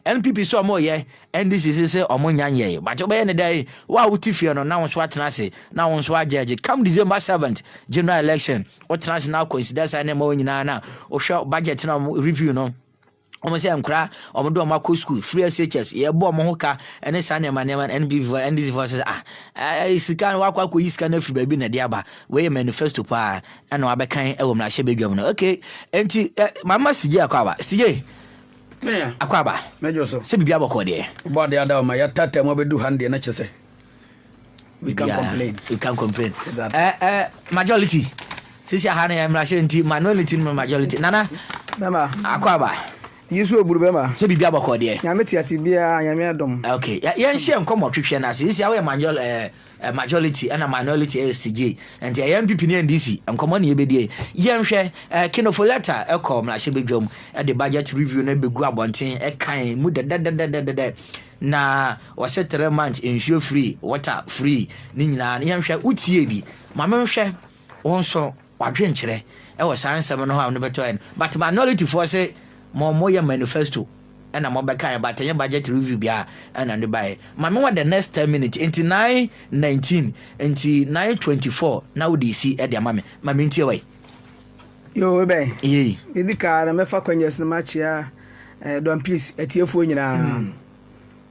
NPP sɛ ɔmo yɛ, NDC se sɛ ɔmo nya nyɛe but wobɛyɛ ne dɛn wo a wote fie no na wo nso atena ase na wo nso agyɛɛgye come December seventh general election wotena ase na coincidence a ne ma wɔn nyinaa na wohwɛ budget na ɔmo review no wɔn sɛ nkora wɔn de wɔn akɔ sukuu free shs yɛbɔ wɔn ho ka ne saa nneɛma nneɛma no npp fo ndc fo sɛ ah ɛɛ sika no wakɔ akɔyi sika no afiri baabi na ɛde aba wɔyɛ manifesto paa ɛna wabɛkan ɛwɔ mmarahyɛ badwam no okay nti ɛ mama sigye akɔ aba sigye. Akwaaba, sɛ biribiara bɔkɔɔ deɛ. Wobɔ adeɛ ada o ma yɛataataa mu abɛdu ha no deɛ na kyɛ sɛ we can complain. We can complain. Exactly. Eh, eh, majority. Sisi aha no yɛ mmarahyɛ nti minority no majority. Nana, bɛma. Akwaaba. Yesu oburu bɛma. Sɛ biribiara bɔkɔɔ deɛ. Nyame te ase biara, nyame adom. Okay, yɛnhyɛ nkɔmmɔ twetwɛ no ase. Sisi awo yɛ majority. Eh, Ɛ majority ɛna minority ɛyɛ stigye nti ɛyɛ NPP ne NDC nkɔmɔ ne yɛbɛdie. Yɛnhwɛ ɛ Kinofo lɛta ɛkɔ mmarahyɛbadwam ɛde budget review no ɛbɛgu abɔnten ɛkan mu dɛdɛdɛdɛdɛdɛ na wɔse three months nsuo free, water free ne nyinaa no yɛnhwɛ wotiee bi? Ma menhwɛ. Wo nso wadwen kyerɛ wɔ saa nsɛm no ho a wone bɛtɔ yɛ no but minority foɔ se mo mo yɛ manifesto ɛna mo bɛka yɛ but ɛnyɛ budget review biaa ɛna ne baɛ ma me wɔ the next ten minutes nti nine nineteen nti nine twenty four na wode si ɛde ama me ma me ntie wai Yo wobɛn yei ɛdi kaa na mɛfa kwanyas no makyea eh, don please atiefoɔ nyinaa mm.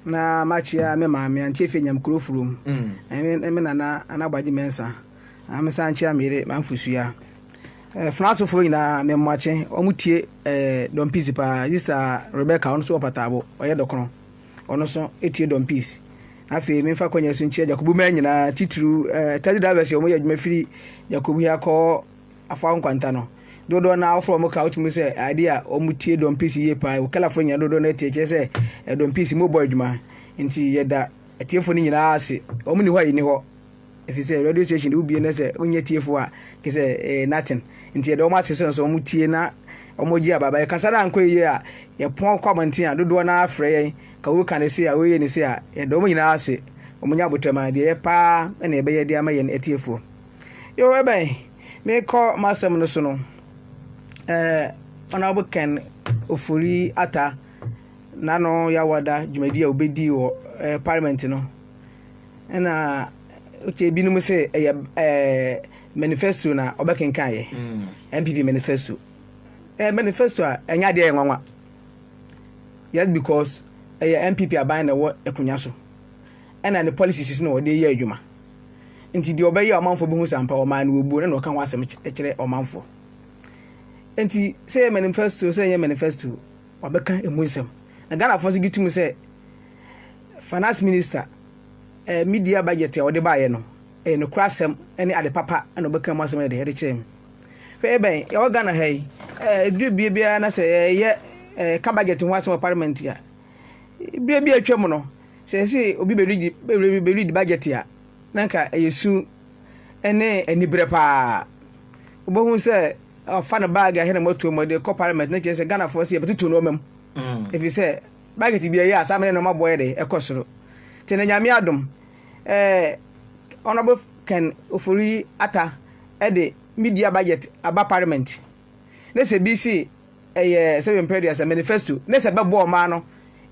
na makyea me maame antiefie nyamkuro furom mm. me nana anabagye mɛnsa Na mesan nkyia me yere Mamfo Sua. Eh, Francefoɔ nyinaa me mmoakye wɔn tie eh, Don Peace paa. Sista Rebecca ɔno nso wɔ Pataabo, ɔyɛ dɔkono. Ɔno nso tie Don Peace. Afei memfa kwanya so nkyia Jacobu mmaa nyinaa titiriw eh, taxi drivers a wɔyɛ adwuma firi Jacobu yi akɔ afa nkwanta no. Dodoɔ no ara wofrɛ wɔn ka wotumi sɛ ade a wɔn tie Don Peace yie paa. Wokalafoɔ nyinaa dodoɔ no atie kyerɛ sɛ eh, Don Peace mu bɔ adwuma. Nti yɛda atiefoɔ no nyinaa ase. Wɔn ni hɔ a yɛni hɔ. Efisɛ radio station de wobie na sɛ wonyɛ tiefo a ke sɛ eh, nothing nti yɛde wɔn ase so nso wɔn tie na wɔn gye ababa yɛ kasa no ankɔ yie a yɛpɔn kɔ abɔnten a dodoɔ no ara frɛ yɛn ka woka ne se a woyɛ ne se a yɛde wɔn nyinaa ase wɔn nya abotɛm a deɛ yɛ paa na yɛbɛyɛ de ama yɛn atiefoɔ yo ɛbɛn mekɔ m'asɛm no so no ɛɛ honorable ken ofori ata n'ano yawada dwumadi a obedi wɔ ɛɛ parliament no. ɛna okay binom sɛ ɛyɛ ɛɛ manifesto na ɔbɛkenkan yɛ npp mm. manifesto ɛyɛ manifesto a ɛnyɛ adeɛ yɛ nwanwa just because ɛyɛ npp aban na ɛwɔ akonnwa so ɛna ne policies na wɔde yɛ adwuma nti deɛ ɔbɛyɛ ɔmanfoɔ bɛhu sampa ɔman no wɔbuo na ɔka ho asɛm kyerɛ ɔmanfoɔ nti sɛ yɛ manifesto sɛ yɛ manifesto ɔbɛka ɛmu nsɛm. Na Ghanafoɔ nso gye tom sɛ finance minister eh, media budget a wɔde baeɛ no ɛyɛ nokorɛ asɛm ne ade papa na ɔbɛka mu asɛm de ɛde kyerɛ mu hwɛ ɛbɛn yɛwɔ ghana ha yi ɛduru bie biara na sɛ yɛyɛ ka budget ho asɛm wɔ parliament a bie bi atwa mu no sɛ ɛsɛ obi bɛredi budget a na nka ɛyɛ su ne aniberɛ paa wobɛhu sɛ ɔfa no bag a ɛhɛ na moatuo mu de kɔ parliament ne kyerɛ sɛ ghanafoɔ sɛ yɛbɛtoto nnoɔma mu ɛfiri mm. sɛ bagɛt bi ɛyɛ a saa mene nnoɔma boɔ yɛ de ɛkɔ soro nti na nyame adom eh, honorable ken ofori ata ɛde media budget aba parliament ne sɛ bi si ɛyɛ sɛdeɛ mpere aduasa manifesto ne sɛ bɛbɔ ɔman no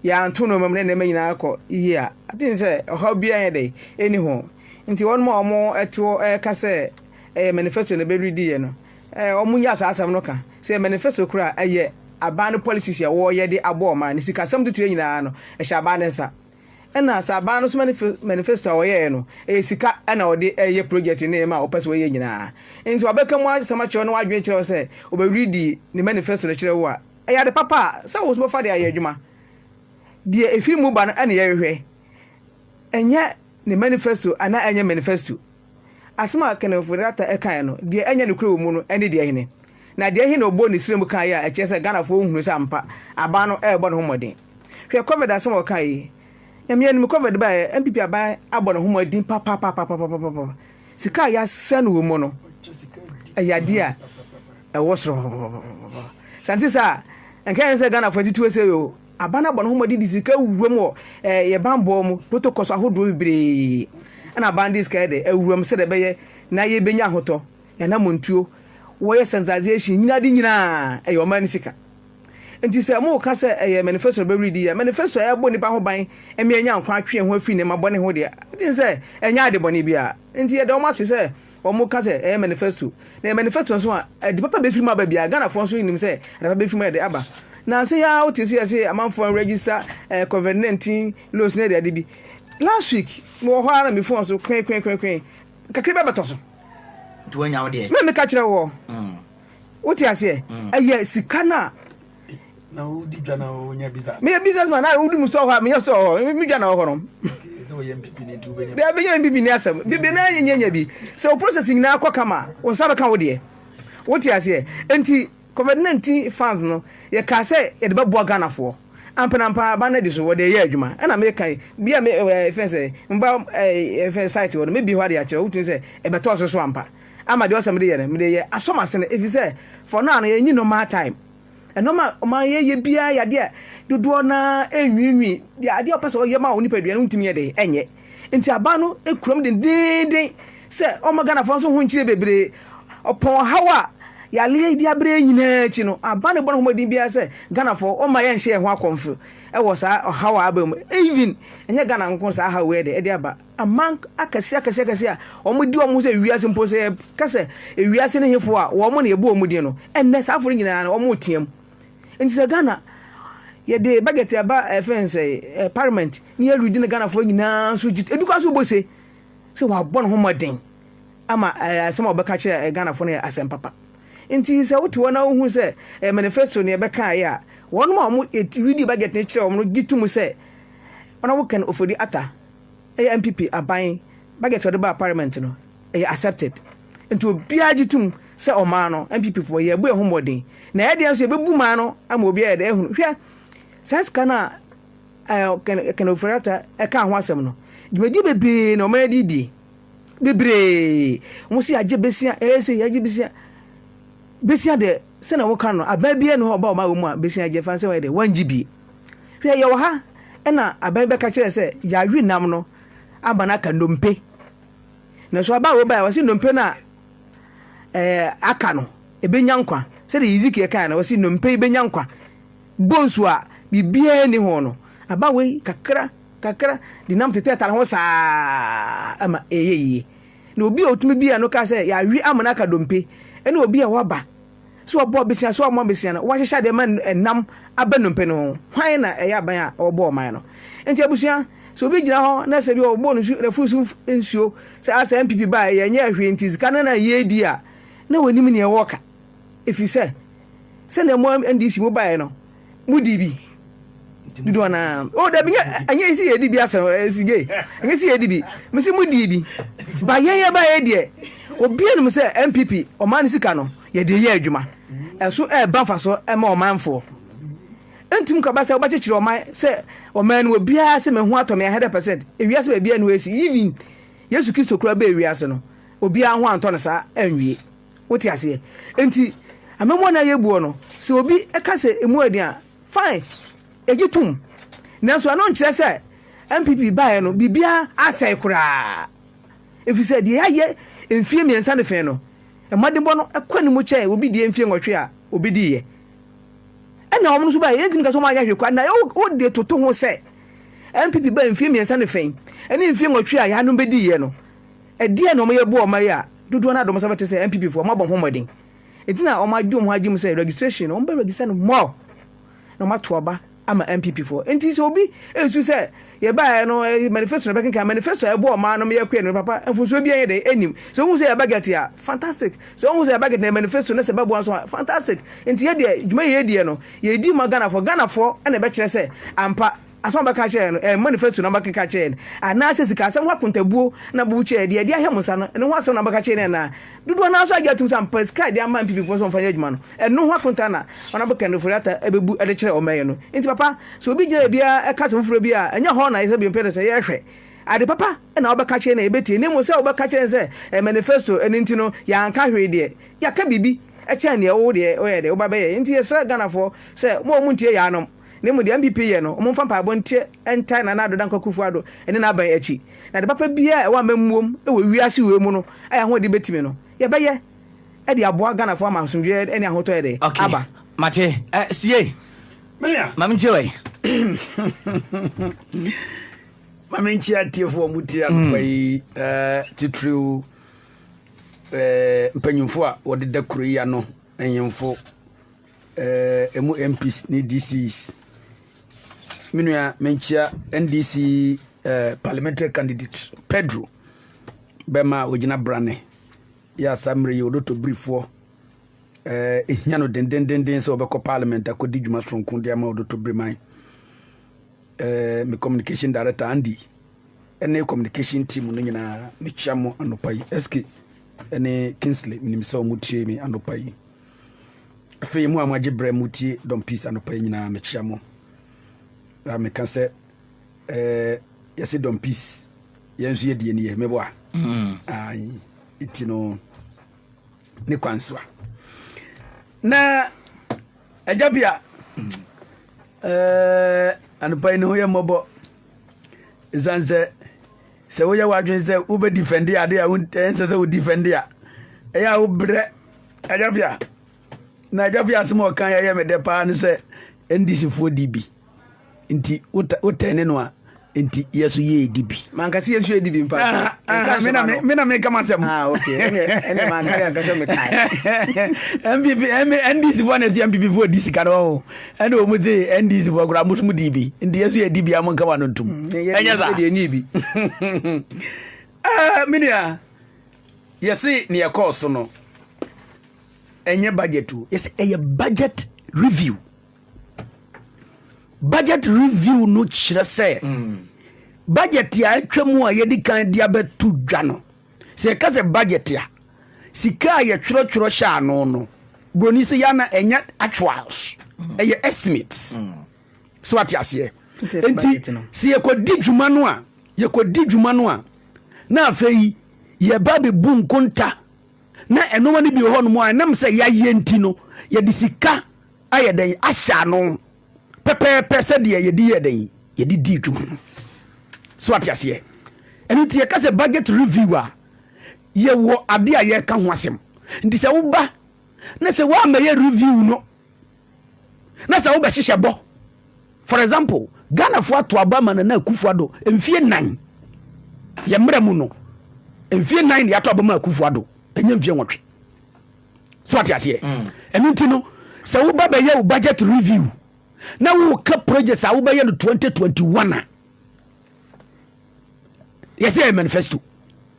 yɛanto nneɛma mu ne nneɛma nyinaa kɔ yie a aten sɛ ɔhaw biara yɛ dɛ ɛni ho nti wɔn a wɔn ɛte hɔ ɛka sɛ ɛyɛ manifesto na ɛbɛredi yɛ no ɛɛ wɔn nyɛ saa asɛm no ka sɛ yɛ manifesto kora ɛyɛ aban no policies a wɔyɛ de abɔ ɔman no sikasɛm tutuo nyinaa no ɛhyɛ aban no nsa. Ɛna sɛ aban no so manifesto a wɔyɛɛ no, ɛyɛ sika na wɔde yɛ project ne nneɛma a wɔpɛ sɛ wɔyɛ nyinaa. Nti wɔbɛka mu asɛm akyerɛ wo na w'adwene kyerɛ wo sɛ wɔbɛredi ne manifesto no kyerɛ wo a, ɛyɛ ade papa a sɛ wo nso bɛfa de ayɛ adwuma. Deɛ ɛfiri mu ba no na yɛhwehwɛ, ɛnyɛ ne manifesto anaa ɛnyɛ manifesto. Asɛm a Kananfo Data kae no, deɛ ɛnyɛ nokorɛ wɔ mu no ne deɛ hene? Na deɛ he na ɔbɔɔ ne srɛm kaeɛ a ɛkyerɛ sɛ Ghanafoɔ nhunu sɛ ampa aban no rebɔ ne ho mmɔden? Hwɛ Covid asɛm a ɔkaeɛ yi. Nyame anim, Covid baeɛ a, NPP aban abɔ ne ho mmɔden papapapapapapa. Sika a yɛasɛe no wɔ mu no, ɛyɛ adeɛ a ɛwɔ soro papapapapapa. Sɛ ɛnte saa a, nka yɛn sɛ Ghanafoɔ atitiwɔ sei o. Aban abɔ ne ho mmɔden de sika awuram wɔ yɛn bammɔ mu protocol ahodoɔ bebree na aban de sika de awuram sɛdeɛ ɛbɛyɛ na yɛbɛnya ahotɔ, yɛanamontuo, wɔyɛ sensitization, nyina ade nyinaa ɛyɛ ɔman no sika. Nti sɛ moka sɛ ɛyɛ manifesto no bɛweredi yɛ, manifesto a ɛbɔ nipa ho ban ɛma yɛnya nkwa atwe yɛn ho afiri nneɛma bɔne ho deɛ, wogye sɛ ɛnyɛ ade bɔne biara. Nti yɛda wɔn ase sɛ wɔn ka sɛ ɛyɛ manifesto na yɛ manifesto nso a ɛde papa bɛfiri mu aba biara ghanafoɔ nso nim sɛ ɛde papa bɛfiri mu ɛde aba nansa yi ara wote so yɛ se amanfoɔ register ɛɛ eh, covid nineteen loans ne ɛde ade bi last week mewɔ hɔ ara na me fon so kwen kwen kwen kwen kakra bi abɛtɔ so nti wɔnya wo deɛ na meka kyerɛ wɔ mm. wote aseɛ mm. ɛyɛ sika no a na wodi dwa na wonya business meyɛ business man na wodi mu sɛ ɔhɔ a menyɛ sɛ ɔhɔ me dwa na ɔhɔ no bɛbɛnya mpipi ne asɛm bibi na nyɛnyɛnya bi sɛ wo process nyinaa kɔ kama wo nsa bɛka wo deɛ wote aseɛ enti covid-19 fans no yɛkaa sɛ yɛde bɛboa ghanafoɔ ampanampa aba no adi so wɔde ɛyɛ adwuma ɛna meka bi a fɛ sɛ mba fɛ site wɔ no mebie hɔ ade akyerɛ wotumi sɛ ɛbɛtɔɔ so so ampa ama deɛ ɔsɛ mede yɛ no mede yɛ asɔm ase no ɛfiri sɛ for now no yɛnyi normal time Nneɛma a ɔma yɛyɛ biara yɛ adeɛ a dodoɔ no ara nwiinwii. Deɛ adeɛ a ɔpɛ sɛ ɔyɛ ma wo nipadua no wontumi yɛ dɛn ɛnyɛ. Nti aban no kura mu dendeenden sɛ ɔmma Ghanafoɔ nso ho nkyerɛ bebree. Ɔpɔn ɔhaw a yareɛ yi de abrɛ yɛn nyinaa akyi no, aban no bɔ ne ho mmɔden biara sɛ Ghanafoɔ ɔmma yɛnhyɛ yɛn ho akɔmfo wɔ saa ɔhaw a aba mu. Even ɛnyɛ Ghana nko saa haw yi de ɛde aba. Aman akɛse akɛse akɛse a wɔn di wɔn ho sɛ wiase mpo sɛ yɛka sɛ ewiase ne hefo a wɔn na yɛbɔ wɔn din no ɛnɛ saa afɔre nyinaa no wɔn retea mu nti sɛ Ghana yɛde budget ɛba ɛfɛn eh, sɛ eh, parliament ne yɛ redi ne Ghanafoɔ nyinaa nso gye ebi kora so bɔ se sɛ wɔabɔ ne ho mmɔden ama eh, asɛm a wɔbɛka kyerɛ eh, Ghanafoɔ no yɛ asɛm papa nti sɛ wote hɔ na wohu sɛ eh, manifesto ne yɛbɛkaeɛ a wɔn a wɔn redi budget no kyerɛ wɔn no gye to mu sɛ wɔn a wɔka no ofori ata Ɛyɛ NPP aban budget a ɔde baa parliament no, ɛyɛ accepted. Nti obiara gye tom sɛ ɔmaa no, NPP foɔ, yɛɛbɔ yɛn ho mmɔden. Na yɛn deɛ nso yɛbɛbu maa no ama obiara ayɛ dɛ ahunu. Hwɛ, saa sika no a Ken, Ken Ofori-Atta ɛkaa ho asɛm no, dwumadie bebree na wɔayɛ de redie. Bebree. Wɔn se yɛagye besia, yɛyɛ sei, yɛagye besia. Besia deɛ, sɛnea wɔka no, aban biara nni hɔ a ɔba ɔma wɔ mu a besia gye fa sɛ wɔyɛ dɛ, wɔngye bi. Hwɛ, yɛwɔ ha na aban bɛka kyerɛ sɛ yɛawe nam no ama no aka nnompe. Na so aba a wɔbae a wɔse nnompe no a ɛɛ aka no, ebenya nkwa. Sɛdeɛ Hezekiel kae no, wɔse nnompe yi benya nkwa. Bonsu a biribiara nni ho no, aba wei kakra kakra denam tetɛtare ho saa ma ɛyɛ yie. Na obi a otumi bue ano ka sɛ, Yɛawe ama no aka dompe, ne obi a waba sɛ ɔbɔ abesea sɛ ɔmmɔ abesea no, wɔahyehyɛ ade ma nam aba nnompe no ho. Hwan na ɛyɛ aban a wɔbɔɔ ɔman no? Enti abusua, sɛ obi gyina hɔ na sɛ bi wɔbobɔɔ no nsu, n'afuru so nsuo, sɛ a sɛ NPP baeɛ, yɛnyɛɛ hwee nti sika no na yɛredi a, na wɔnnim nea wɔreka. Ɛfiri sɛ, sɛdeɛ mo NDC mobaeɛ no, mo di bi dodo ana o da bi ɛnyɛ ɛsi yɛ di bi asɛm ɛsi gye ɛnyɛ si yɛ di bi mesi mo di bi ba yɛn yɛ ba yɛ deɛ obi anim sɛ npp ɔman ne sika no yɛde yɛ adwuma ɛso ɛba nfa so ɛma ɔmanfoɔ ntum kaba sɛ wobɛkyekyere ɔman sɛ ɔman no obiara sɛ meho atɔ me 100 percent ewiase baabi a no ɛsi even yesu kristo kura bɛ ewiase no obiara ho antɔ no saa anwie Wote aseɛ? Enti, amammuo no a yɛbuo no, sɛ obi ka sɛ emu yɛ den a, fine, yɛgye tom. Nanso ɛno nkyerɛ sɛ NPP baeɛ no, biribiara asɛe koraa. Ɛfiri sɛ deɛ yɛayɛ mfeɛ mmiɛnsa ne fee no, mmɔdenbɔ no kɔ anim kyɛn obi deɛ mfeɛ nwɔtwe a ɔbɛdiiɛ. Ɛnna wɔn nso baeɛ, yɛntumi nka sɛ wɔanyɛ hwee koraa. Na wode toto ho sɛ NPP baeɛ mfeɛ mmiɛnsa ne fee ne mfeɛ nwɔtwe a yɛanom bɛdiiɛ no, Ɛdeɛn na wɔyɛ boa ɔman yi a dodoɔ no ara dɔ wɔn sɛ bɛte sɛ NPP foɔ? Wɔabɔ ho mmɔden nti na wɔn agye wɔn ho agye mu sɛ registration no wɔn bɛ register no more na wɔn ato aba ama NPP foɔ. Nti sɛ obi nsu sɛ yɛbaeɛ no manifesto na ɛbɛkenkan manifesto a ɛboa ɔman no ma yɛkɔɛ no papa mfunsuo bi ɛyɛ dɛ ɛnim. Sɛ wohu sɛ yɛ budget a fantastic sɛ wohu sɛ yɛ budget na yɛ manifesto na sɛ ɛbɛboa nso a fantastic. Nti yɛ deɛ dwuma yɛ yɛdiɛ no yɛdi ma Ghanafoɔ Ghanafoɔ na ɛbɛkyerɛ sɛ ampa asɛm a ɔbɛka akyerɛ yɛn no, ɛyɛ manifesto na ɔbɛkeka akyerɛ yɛn, anaasɛ sikasɛm ho akontabuo na ɔbɛbu kyerɛ yɛn, deɛ ɛde ahɛ mo nsa no, ɛno ho asɛm na ɔbɛka akyerɛ yɛn anaa? Dodoɔ no ara nso agye atom sɛ ampa sika a yɛde ama NPP foɔ sɛ wɔmfa nyɛ adwuma no, ɛno ho akonta na Honourable Kennedy Ofori-Atta bɛbu de kyerɛ wɔn bɛyɛ no. Nti papa, sɛ obi gyina baabi ara ɛka asɛm foforɔ bi a, ɛnyɛ hɔ na yɛsɛ bio mpɛn sɛ yɛhwɛ. Ade papa na wɔbɛka akyerɛ yɛn na yɛbɛtie, na mmom sɛ wobɛka akyerɛ yɛn sɛ ɛyɛ manifesto, ɛno nti no yɛanka hwee deɛ, yɛaka biribi kyɛn deɛ wo deɛ woyɛ dɛ woba bɛyɛ. Nti yɛsrɛ Ghanafoɔ sɛ mo a montie yaanom, Na mmom deɛ NPP yɛ no, wɔmfa mpaebɔ nteɛ ntae Nana Addo Dankwa Akufo-Addo ne n'aban akyi. Na ade papa biara a ɛwɔ amammuom wɔ wiase wei mu no a yɛn ahoɔden bɛtumi no, yɛbɛyɛ de aboa Ghanafoɔ ama asomdwoeɛ ne ahotɔ yɛ dɛ? Okay, aba. mate. Eh, Ssie, ma mentie wai. Ma mentie atiefoɔ a wɔtie anɔpa yi, eh, titiriw eh, mpanyimfoɔ a wɔdeda kuro yi ano, nhemfo, eh, emu MPs ne DCs. Me nua menkyia NDC eh, parliamentary candidate Pedro bɛma a ogyina brane yɛ asa mmerɛ yi ɔdɔtɔ birifoɔ eh, ehia no dendendenden sɛ ɔbɛkɔ parliament akɔdi dwuma soronko de ama ɔdɔtɔ biriman eh, me communication director Andy ɛne communication team no nyinaa mekyia mo anɔpa yi SK ɛne Kingsley menim sɛ ɔmo tie me anɔpa yi Afei mo a mo agye berɛ mo tie Dɔm Peace anɔpa yi nyinaa mekyea mo na meka sɛ eh, yɛse Dɔm Peace yɛn nso yɛdie ni yɛ mebɔ a mm. nti no ne kwan so a na agya bi a mm. eh, anɔpa yi ne ho yɛ mmɔbɔ ɛsiane sɛ Sɛ woyɛ w'adwene sɛ wobɛdifɛnde ade a ɛnsɛ sɛ wodifɛnde a, ɛyɛ a wobrɛ agyafia. Na agyafia asɛm a ɔka yɛyɛ me dɛ paa no sɛ ndisifoɔ di bi nti wotɛn ne no a nti yɛ so yɛ edi bi. Manka sɛ yɛ so yɛ di bi mpa. Ah, ah, me na me na me ka masɛm. Ah, okay. Ɛnɛ ɛnɛ manka yɛ nka sɛ me ka. MPP, NDC foɔ na ɛsi MPP foɔ di sika no. ɛna wɔn dze ndc fo koraa mo som dii bi nti yɛ so yɛ di bi a mo nkama no ntum ɛnyɛ sa ɛdeɛ nii bi ɛɛ menua yɛse ne ɛkɔɔ so no ɛnyɛ budget o yɛse ɛyɛ budget review budget review no kyerɛ sɛ mm. budget a atwa mu a yɛdi kan de abɛto dwa no Sɛ yɛka sɛ budget a, sika a yɛtwerɛtwerɛ hyɛ ano no, broni sɛ yɛ na ɛnyɛ actuals, ɛyɛ estimates. Mm. So wate aseɛ? Nti sɛ yɛkɔdi dwuma no a, yɛkɔdi dwuma no a, na afei yɛba bɛbu nkonta na ɛnoma no bi wɔ hɔnom a ɛnam sɛ yɛayɛ nti no yɛde sika ayɛ dɛn ahyɛ ano pɛpɛɛpɛ sɛdeɛ yɛde yɛɛ dɛn yɛde dii dwuma no so ate aseɛ ɛno nti yɛka sɛ budget review a yɛwɔ adeɛ a yɛka ho asɛm nti sɛ woba na sɛ woamɛyɛ review no na sɛ wobɛhyehyɛ bɔ for example ghanafoɔ ato aba ma nana akufo ado mfie nan yɛ mmerɛ mu no mfie nan ne ato aba ma akufo ado ɛnyɛ mfie nwɔtwe so ate aseɛ mm. ɛno nti no sɛ woba bɛyɛ wo budget review na woka projects a wobɛyɛ no 2021 a yɛsɛ yɛ manifesto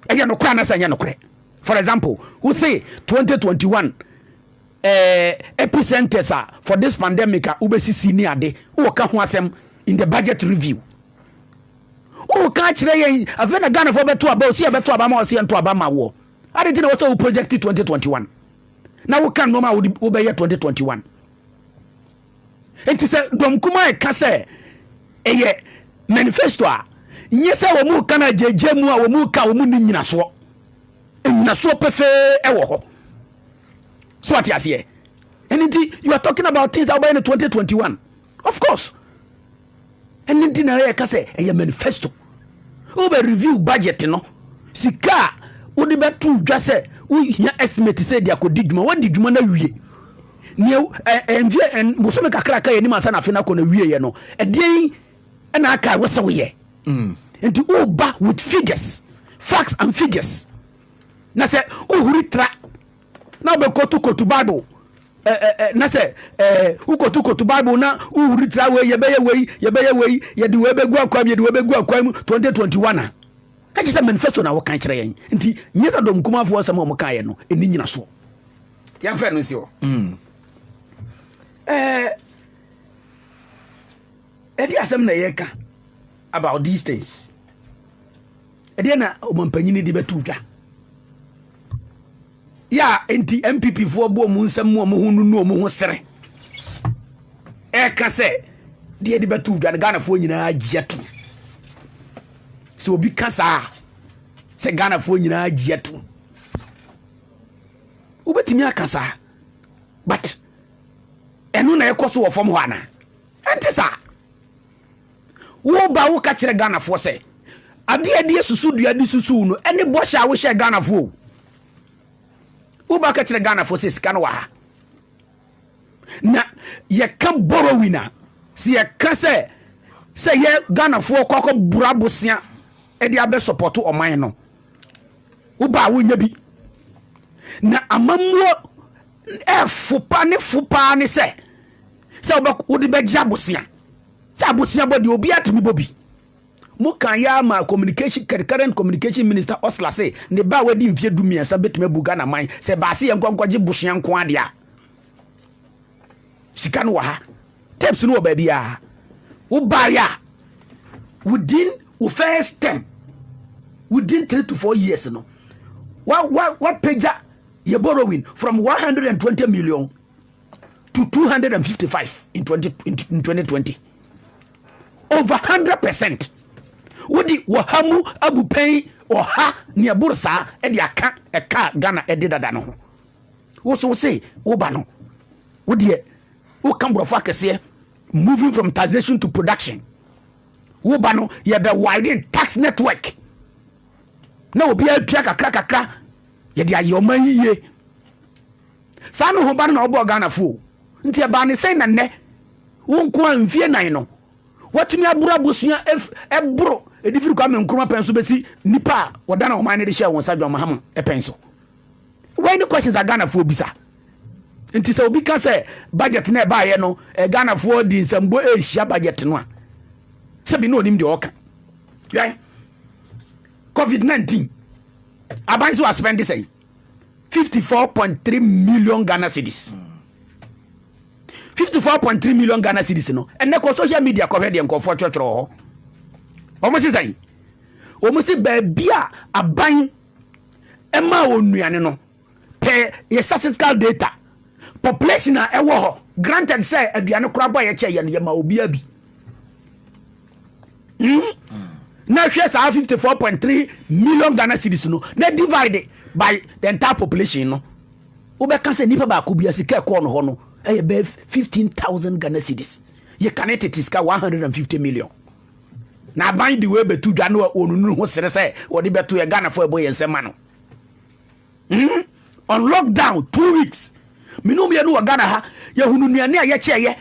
ɛyɛ nokorɛ anasɛ ɛnyɛ nokorɛ for example wo se 2021 eh, epicenters a for this pandemic a wobɛsisi ne ade woka ho asɛm in the budget review woka kyerɛ yɛn afei na ghanafoɔ bɛto aba ɔsi yɛbɛto aba ma ɔsi yɛnto aba ma woɔ Adɛn nti na ɛwɔ sɛ wo project 2021 na woka nnoɔma a wode wobɛyɛ 2021? Nti sɛ dɔm kumaa ɛka sɛ ɛyɛ manifesto a, nyɛ sɛ wɔn reka no agyagya mu a wɔn reka wɔn ni nyinasoɔ. Nyinasoɔ pefee ɛwɔ hɔ. So ate aseɛ? Ɛno nti you are talking about things a wobɛyɛ no 2021. Of course. ɛno nti na yɛka sɛ ɛyɛ manifesto wobɛ review budget no sika a wode bɛto dwa sɛ wohia estimate sɛ de akɔdi dwuma woadi dwuma no awie neɛ ɛmfeɛ bosome kakra ka yɛnim ansa na afe no akɔ no awieɛ no ɛdeɛn ɛna aka wɔ sɛ woyɛ mm. nti woba with figures facts and figures na sɛ wohuri tra na wobɛkotokoto bible na sɛ wokotokoto bible na wohuri tra wei yɛbɛyɛ wei yɛbɛyɛ wei yɛde wei bɛgu akwan mu yɛde wei bɛgu akwan mu 2021 a na kyerɛ sɛ manifesto na wokan kyerɛ yɛn nti nyɛ sɛ dɔm kumafoɔ asɛm a wɔkaeɛ no ɛni nyina soɔ yɛmfrɛ no nsi hɔ hmm. ɛde asɛm na yɛka about these things Ɛdeɛn na ɔmampanin de bɛto dwa? Yɛ a enti MPP foɔ bu wɔn nsam mu wɔn ho nunu wɔn ho sere ɛka sɛ deɛ de bɛto dwa no Ghanafoɔ nyinaa gye to sɛ obi ka saa sɛ Ghanafoɔ nyinaa gye to wobɛtumi aka saa but ɛno na ɛkɔ so wɔ fam hɔ anaa ɛnte saa Woba woka kyerɛ Ghanafoɔ sɛ adeɛ a ɛde susu dua de susu no ɛne bɔhyɛ a wohyɛ Ghanafoɔ o. Woba ka kyerɛ Ghanafoɔ sɛ sika no wɔ ha. Na yɛka borrowing a sɛ yɛka sɛ sɛ yɛ Ghanafoɔ kɔ akɔ bura bosea ɛde abɛ support ɔman no. Woba a wonya bi. Na amammuo ɛfo pa ne fo paa ne sɛ sɛ wode bɛgye abosea. Sɛ abusuabɔ deɛ obiara tumi bɔ bi. Mo kaa yi ara maa communication current communication minister Osla se ne ba a wadi mfeɛ du mmiɛnsa bɛtumi abu Ghana man sɛ baase yɛn nkɔ nkɔgye bosea nko ara deɛ a. Sika no wɔ ha. Tapes no wɔ baabiara. Wobaeɛ a within wo first term within three to four years no wapagya yɛ borrowing from 120 million to 255 in 20, in 2020 over 100 percent wode wɔha mu abupɛn ɔha ne ɛboro saa de aka ɛka ghana ɛde dada no ho wo so wo se woba no wodeɛ woka borɔfo akɛseɛ moving from taxation to production woba no yɛbɛ widen tax network na obiara tua kakra kakra yɛde ayɛ ɔma yiye Saa no hoba no na ɔbɔɔ Ghanafo o. Nti ɛbaa ne sɛn na nnɛ, wo nko ara mfie nnan no, woatumi aboro abusua ɛf, ɛboro ɛde firi Kwame Nkrumah pɛn so bɛsi nnipa a wɔdane ɔman no de hyɛɛ wɔn nsa John Mahama pɛn so? Wei ne questions a Ghanafoɔ bisa. Nti sɛ obi ka sɛ budget no ɛbaeɛ no, eh, Ghanafoɔ de nsɛmbo ɛrehyia budget no a, sɛbi na ɔnim deɛ ɔka. Yɛn, COVID-19, aban so aspɛnde sɛn? fifty four point three million ghana cedis fifty four point three million ghana cedis no ɛnɛ kɔ social media kɔhwɛ deɛ nkɔfoɔ twerɛtwerɛ wɔ hɔ wɔn si sɛn wɔn si baabi a aban ɛma wɔn nnuane no pɛ yɛ statistical data population a ɛwɔ hɔ granted sɛ aduane koraa bɔ a yɛkyɛ yɛ no yɛma obiara bi. Hmm? Na hwɛ saa 54.3 million Ghana cities no, na divide by the entire population no. Wobɛka sɛ nipa baako bi asika ɛkɔɔ no hɔ no ɛyɛ bɛɛ 15,000 Ghana cities. Yɛka ne tete sika 150 million. Na aban de wei bɛtu dwa no a wɔnunu ho sere sɛ wɔde bɛto yɛ Ghanafoɔ ɛbɔ yɛn nsɛm ma no. Hmm? On lockdown two weeks. Mene wo mmienu wɔ Ghana ha. Yɛhunu nnuane a yɛkyɛeɛ.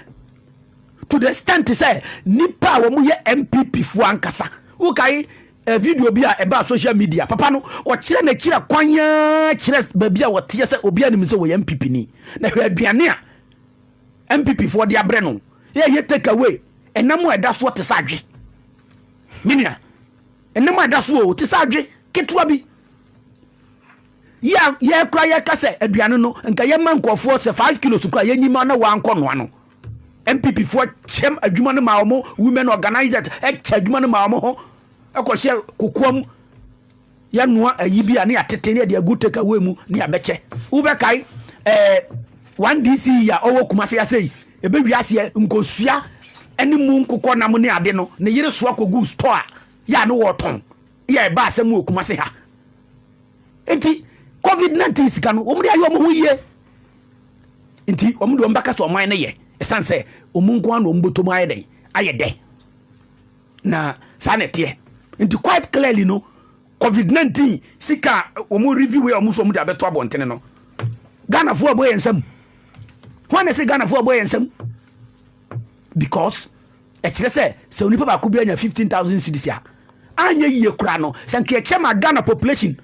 To the extent sɛ nipa a wɔn yɛ MPP foɔ ankasa. Wokae eh, video bi a ɛbaa social media. Papa no ɔkyerɛ n'akyira kwan yaa kyerɛ baabi a wɔteɛ sɛ obiara nim sɛ wɔyɛ MPP ni. Na hwɛ aduane a MPP foɔ de abrɛ no. Yɛyɛ take away. Ɛnam a ɛda soɔ te sɛ adwe. Menua. Ɛnam a ɛda soɔ te sɛ adwe ketewa bi. yɛ a yɛ kora yɛka sɛ aduane no nka yɛma nkurɔfoɔ sɛ 5 kilos kora yɛnyi ma na wɔankɔ noa no mpp foɔ kyɛm adwuma no ma wɔn women organizers kyɛ adwuma no ma wɔn ho ɛkɔhyɛ kokoa mu yɛnoa ayi bi a ne yɛatete ne yɛde agu take away mu ne yɛabɛkyɛ wobɛkae ɛɛ one dc yi a ɔwɔ kuma se ase yi ɛbɛwi aseɛ nkosua ne mu nkokɔ nam ne ade no ne yere soa kɔgu store a yɛ a ne wɔtɔn yɛ ɛba asɛm mu wɔ Kumasi ha. Nti covid 19 sika no wɔn de ayɛ wɔn ho yie. Nti wɔn de wɔn bɛka sɛ ɔman no yɛ ɛsan sɛ wɔn nko ara na wɔn bɔtɔ mu ayɛ dɛn ayɛ dɛ na saa na ɛteɛ. Nti quite clearly no covid 19 sika wɔn review yɛ wɔn so wɔn de abɛto abɔntene no Ghanafoɔ abɔ yɛn nsam. Wɔn na ɛsɛ Ghanafoɔ abɔ yɛn nsam because. Ɛkyerɛ sɛ sɛ onipa baako biara nya 15,000 cedis a, anyɛ yie koraa no, sɛ nka yɛkyɛ ma Ghana population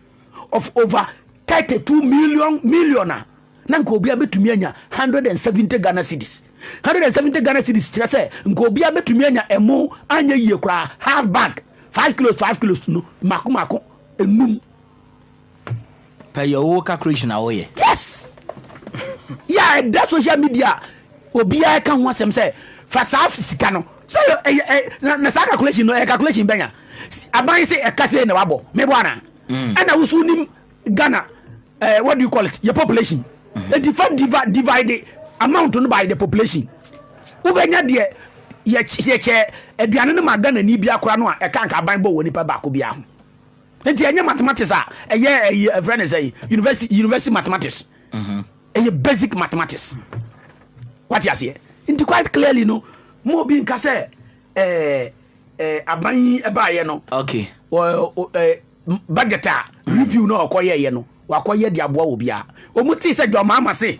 of over 32 million million a, na nka obiara bɛtumi anya 170 Ghana cedis. 170 Ghana cedis kyerɛ sɛ nka obiara bɛtumi anya ɛmo anyɛ yie koraa half bag, 5 kilos 5 kilos no mako mako enum. Pɛ yɛ wo calculation a woyɛ. Yes! Yɛ a ɛda social media a obiara ka ho asɛm sɛ fa saa sika no sɛ ɛyɛ na saa calculation no ɛyɛ calculation bɛnya aban se ɛka sɛ na wabɔ mebɔ ana mm. ɛna wosu nim Ghana uh, what do you call it yɛ population mm-hmm. enti fa divide divide amount no by the population wobɛnya deɛ yɛkyɛ aduane no ma Ghana ni biakora no a ɛka nka aban bɔ wɔ nipa baako biara ho Nti ɛnyɛ mathematics a ɛyɛ ɛyi ɛfrɛ ne sɛn university university mathematics mhm. ɛyɛ basic mathematics wate aseɛ nti quite clearly no mo obi nka sɛ ɛɛ ɛɛ aban yi ɛbaayɛ no okay wɔ ɛɛ budget a mhm. review na ɔkɔ yɛɛyɛ no wakɔ yɛ de aboa wɔ biara wɔn ti sɛ jɔn maama se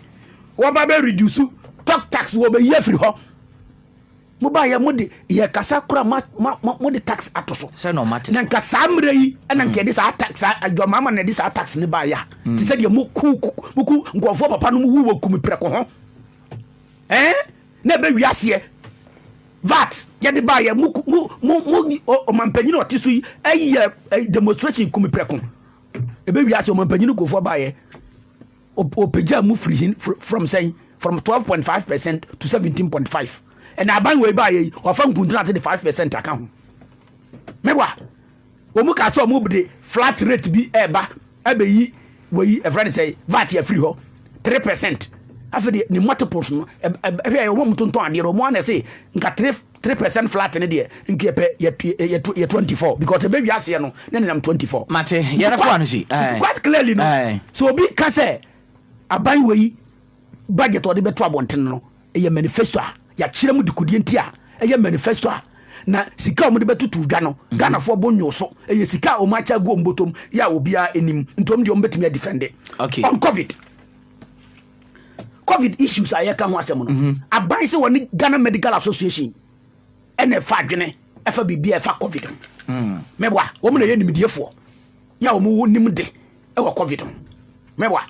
wɔba bɛ reduce talk tax wɔ bɛ yi afiri hɔ. Mo ba yɛ mo de yɛ kasa kora ma ma mo de tax ato so. Sɛ na ɔma te. Na nka saa mmerɛ yi ɛna nka yɛde saa tax saa adwamaama na yɛde saa tax ne ba ya. Mm. Te sɛ deɛ mo ku mo ku nkɔfoɔ papa no mo wu wɔ kumi prɛko ho. Ɛɛ na ɛbɛ wi aseɛ. VAT yɛde ba yɛ mo mo mo mo ɔmanpanyin ɔte so yi ɛyɛ demonstration kumi prɛko. Ɛbɛ wi aseɛ ɔmanpanyin nkɔfoɔ ba yɛ. Wɔpagyaa mu firi hin from sɛn from twelve point five percent to seventeen point five ɛna aban wɔ eba ayɛ yi wɔafa nkuntunate de five percent aka ho mewa wɔn kaa sɛ wɔn de flat rate bi ɛreba ɛbɛyi wɔ yi ɛfrɛ ne sɛ vat afiri hɔ three percent afei de ne multiples no ɛhwɛ wɔn mu tontɔn adeɛ wɔn ana sɛ nka three. Three percent flat no deɛ nka yɛpɛ yɛ twenty four because ɛbɛ wia aseɛ no na nenam twenty four. Mate yɛrɛ fo ano si. Nti quite clearly no sɛ obi ka sɛ aban wei budget ɔde bɛto abɔnten no ɛyɛ manifesto a yɛakyerɛ mu dekodeɛ nti a ɛyɛ manifesto a na sika a wɔde bɛtoto dwa no mhm. Ghanafoɔ bo nyo so ɛyɛ sika a wɔn akyɛ agu wɔn bɔtɔm yɛ a obiara anim nti wɔn deɛ wɔn bɛtumi adifɛnde on covid. covid issues a yɛka ho asɛm no mhm. aban sɛ wɔne ghana medical association ɛna ɛfa adwene ɛfa biribi a ɛfa covid ho mhm. mɛboa wɔn na ɛyɛ nimdiefoɔ yɛ a wɔn wɔ nim de ɛwɔ covid ho mɛboa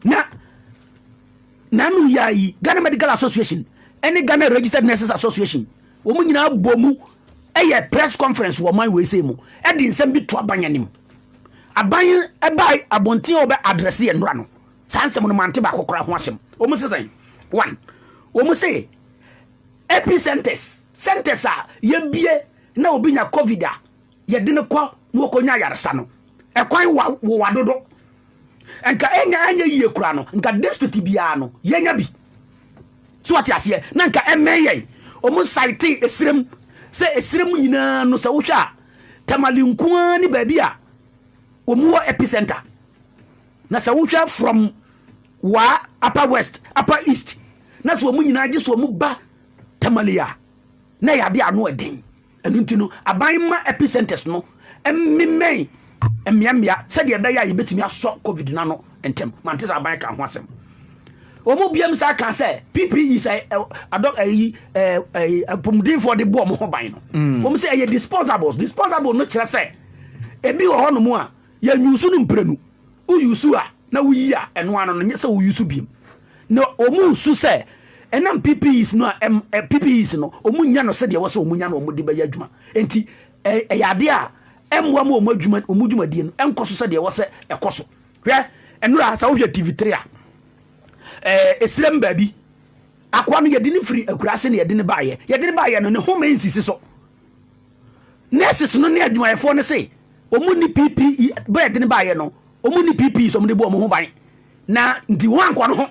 na nanu yɛ ayi ghana medical association ɛne ghana registered nurses association wɔn nyinaa bɔ mu ɛyɛ press conference wɔ ɔman wɔ ɛsɛ mu ɛde nsɛm bi to aban anim aban ɛba abɔnten a wɔbɛ adrɛse yɛn nora no Saa nsɛm no mante baako koraa ho asɛm. Wɔn se sɛn? One, wɔn se epicenters, centers a yɛbie na obi nya covid a yɛde no kɔ na wɔkɔnya ayaresa no, ɛkwan wa wowa dodo. Nka ɛnya anyɛ yie koraa no, nka district biara no yɛnya bi. So wɔte aseɛ na nka ɛmɛn yɛn. Wɔn saete esirem sɛ esirem nyinaa no sɛ wohwɛ a tamale nkoa ne baabi a wɔn wɔ epicenter. Na sɛ wohwɛ from wa upper west upper east na sɛ wɔn nyinaa gye sɛ wɔn ba tamale a na ɛyɛ ade ano ɛden ɛno nti no aban mma epicenters no mmemmɛn mmeammea sɛdeɛ ɛbɛyɛ a yɛbɛtumi asɔ covid no ano ntɛm mante sɛ aban ka ho asɛm wɔn biam saa ka sɛ pp is a adɔ ayi apɔmudenfoɔ de bɔ wɔn ho ban no wɔn sɛ ɛyɛ disposables disposable no kyerɛ sɛ ebi wɔ hɔnom a Yɛ use no mprenu. Wo use a na wo yi a ɛno ano no nyɛ sɛ wo use biom. Na ɔmo su sɛ ɛnam PPEs no a ɛm, ɛ, PPEs no ɔmo nnya no sɛdeɛ ɛwɔ sɛ ɔmo nya no ɔmo de bɛyɛ adwuma. Enti ɛ, ɛyɛ adeɛ a ɛmmoa ma ɔmo adwuma, ɔmo dwumadie no ɛnkɔ so sɛdeɛ ɛwɔ sɛ ɛkɔ so. Hwɛ, ɛnora sɛ wohwɛ TV three a, ɛ, ɛsirem baabi, akoa no yɛde no firi akuraase na yɛde no baeɛ. Yɛde no baeɛ no ne home nsisi so. Nurses no ne adwumayɛfoɔ no se wɔn nni PPE berɛ ɛde no baeɛ no wɔn nni PPE so wɔn de bu wɔn ho ban na nti wɔn ankɔ no ho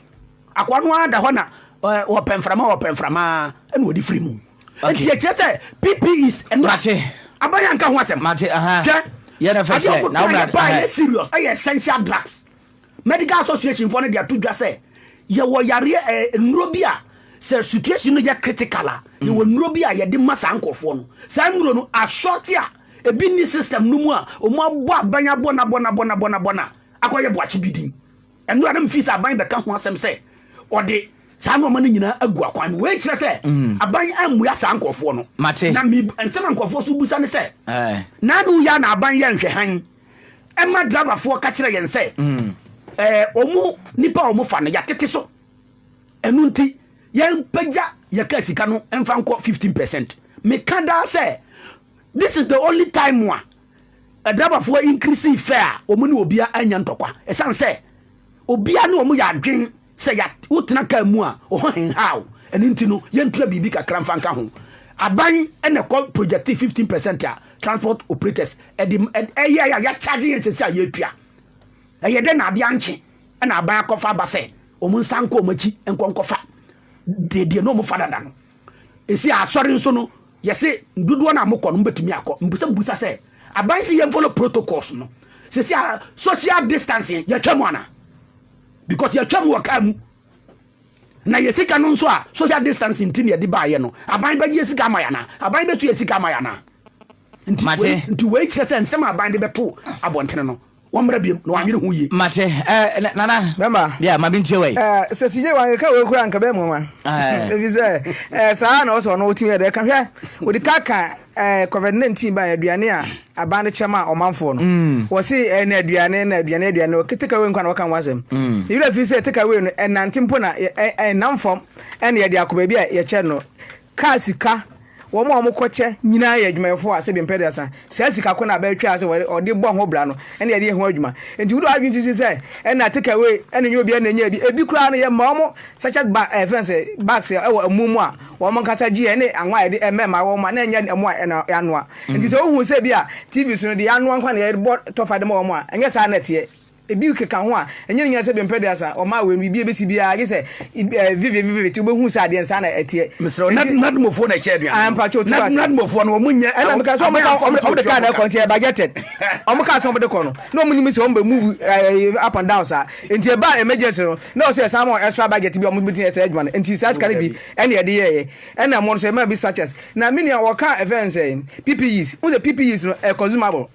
akɔ no ara da hɔ na wɔpɛ mframa wɔpɛ mframa ɛna wɔde firi mu nti ɛkyerɛ sɛ PPEs ɛnora aban anka ho asɛm hwɛ adeɛ wɔn kɔ yɛ ba yɛ serious ɛyɛ essential drugs Medical Association foɔ no de ato dwa sɛ yɛwɔ yareɛ ɛɛ eh, nnuro bi a sɛ situation no yɛ critical a mm. yɛwɔ nnuro bi a yɛde ma saa nkurɔfoɔ no saa nnuro no asɔte a ebi ni system no mu a wɔn abɔ aban abɔ na bɔ na bɔ na bɔ na bɔ na akɔyɛ boakye bi din ɛno a na mefi sɛ aban bɛka ho asɛm sɛ ɔde saa nneɛma no nyinaa agu akwan mu wei kyerɛ sɛ mm. aban ammua saa nkurɔfoɔ no na nsɛm a nkurɔfoɔ so busa ne sɛ naano yɛ na aban yɛ nhwɛ hann ɛma driverfoɔ ka kyerɛ yɛn sɛ wɔn hmm. nipa a wɔfa no yɛatete so ɛno nti yɛmpagya yɛka sika no mfa nkɔ 15 percent meka daa sɛ this is the only time a adrabafoɔ increase fɛ a wɔn ne obia anya ntɔkwa ɛsiane sɛ obia ne wɔn yɛ adwen Sɛ ya wotena car mu a, wo ho henha wo. Ɛno nti no, yɛntua biribi kakra mfa nka ho. Aban na ɛkɔ projecte fifteen percent a transport operators de yɛe a yɛacharge yɛn sɛsi a yɛretua. Ɛyɛ dɛn na adeɛ ankye na aban akɔfa aba sɛ wɔn nsan nkɔ wɔn akyi nkɔ nkɔfa baabi a na wɔfa dada no. Ɛsi a asɔre nso no, yɛse dodoɔ no a mokɔ no mobɛtumi akɔ. Mpo sɛ mebisa sɛ, aban se yɛmfollow protocols no, sɛsi a social distancing yɛatwa mu anaa? Because yɛtwa mu wɔ kaa mu. Na yɛ sika no nso a social distance nti na yɛde baayɛ no. Aban bɛgye yɛ sika ama yɛ anaa? Aban bɛtu yɛ sika ama yɛ anaa? Mate. Nti wei kyerɛ sɛ nsɛm a aban de bɛto abɔntene no wɔmmra biam na wɔanyere ho yie. Mate. Eh, nana. Bɛma. Yeah, ma bintie wei. Eh, sɛ sigye wankeka wei kura nka bɛmu nwa. Efi sɛ, eh, saa na ɔsɛ ɔno wotumi yɛ dɛ. Ka hwɛ, wode ka ka ɛɛ covid nineteen ba aduane a aban no kyɛ maa ɔmanfoɔ no mm. wɔsi ɛna eh, aduane na aduane aduane wɔ take away nkwa na wɔka ho asɛm mm. yɛrɛ fi sɛ take away no ɛnante mpo na ɛnam eh, fam ɛna yɛde akɔ baabi a yɛkyɛ no kaa sika wɔn a wɔkɔkyɛ nyinaa yɛ adwumayɛfoɔ a sɛbi mpɛ de asa saa sika ko na abɛtwa ase ɔde bɔ ho bra no ɛna yɛde yɛ ho adwuma nti wode wadwene sisi sɛ ɛna take away ɛna nyɛ obi ɛna nyɛ bi ebi koraa no yɛ ma wɔn sachet ba ɛfɛn sɛ bags ɛwɔ ɛmu mu a wɔn ankasa gyeɛ ne anwa a yɛde ɛmɛ ma wɔn a na ɛnyɛ ɛmo a ɛna yɛanoa nti sɛ wohu sɛ bi a tv so no deɛ yɛanoa nkwa na yɛbɔ tɔfa de ma wɔn a ɛnyɛ saa na ɛteɛ ebi keka ho a ɛnyɛ ne nyina sɛ bɛmpɛ duasa wɔn a wɔn biribi ebesi biara gye sɛ ɛɛ vivi vivi vivi ti wobɛhu sɛ adeɛ nsa na ɛteɛ. mesrɛ wo nad nadmofoɔ na ɛkyɛ aduane no ampakyɛ otu ase nadmofoɔ no wɔn nyɛ ɛna meka sɛ wɔn ka wɔn de kaa na ɛkɔ nti ɛyɛ budgeted wɔn kaa sɛ wɔn de kɔ no na wɔn nim sɛ wɔn bɛ move ɛɛ up and down saa nti ɛbaa emergency no Na ɔsɛ saa ma extra budget bi a wɔn betumi ayɛ saa adwuma no. Nti saa sika no bi ɛna yɛde yɛɛyɛ. Ɛna ɛmo no nso yɛmaa bi sachets. Na me nua ɔkaa ɛfɛn no sɛ PPEs. Wohu sɛ PPEs no ɛyɛ consumable.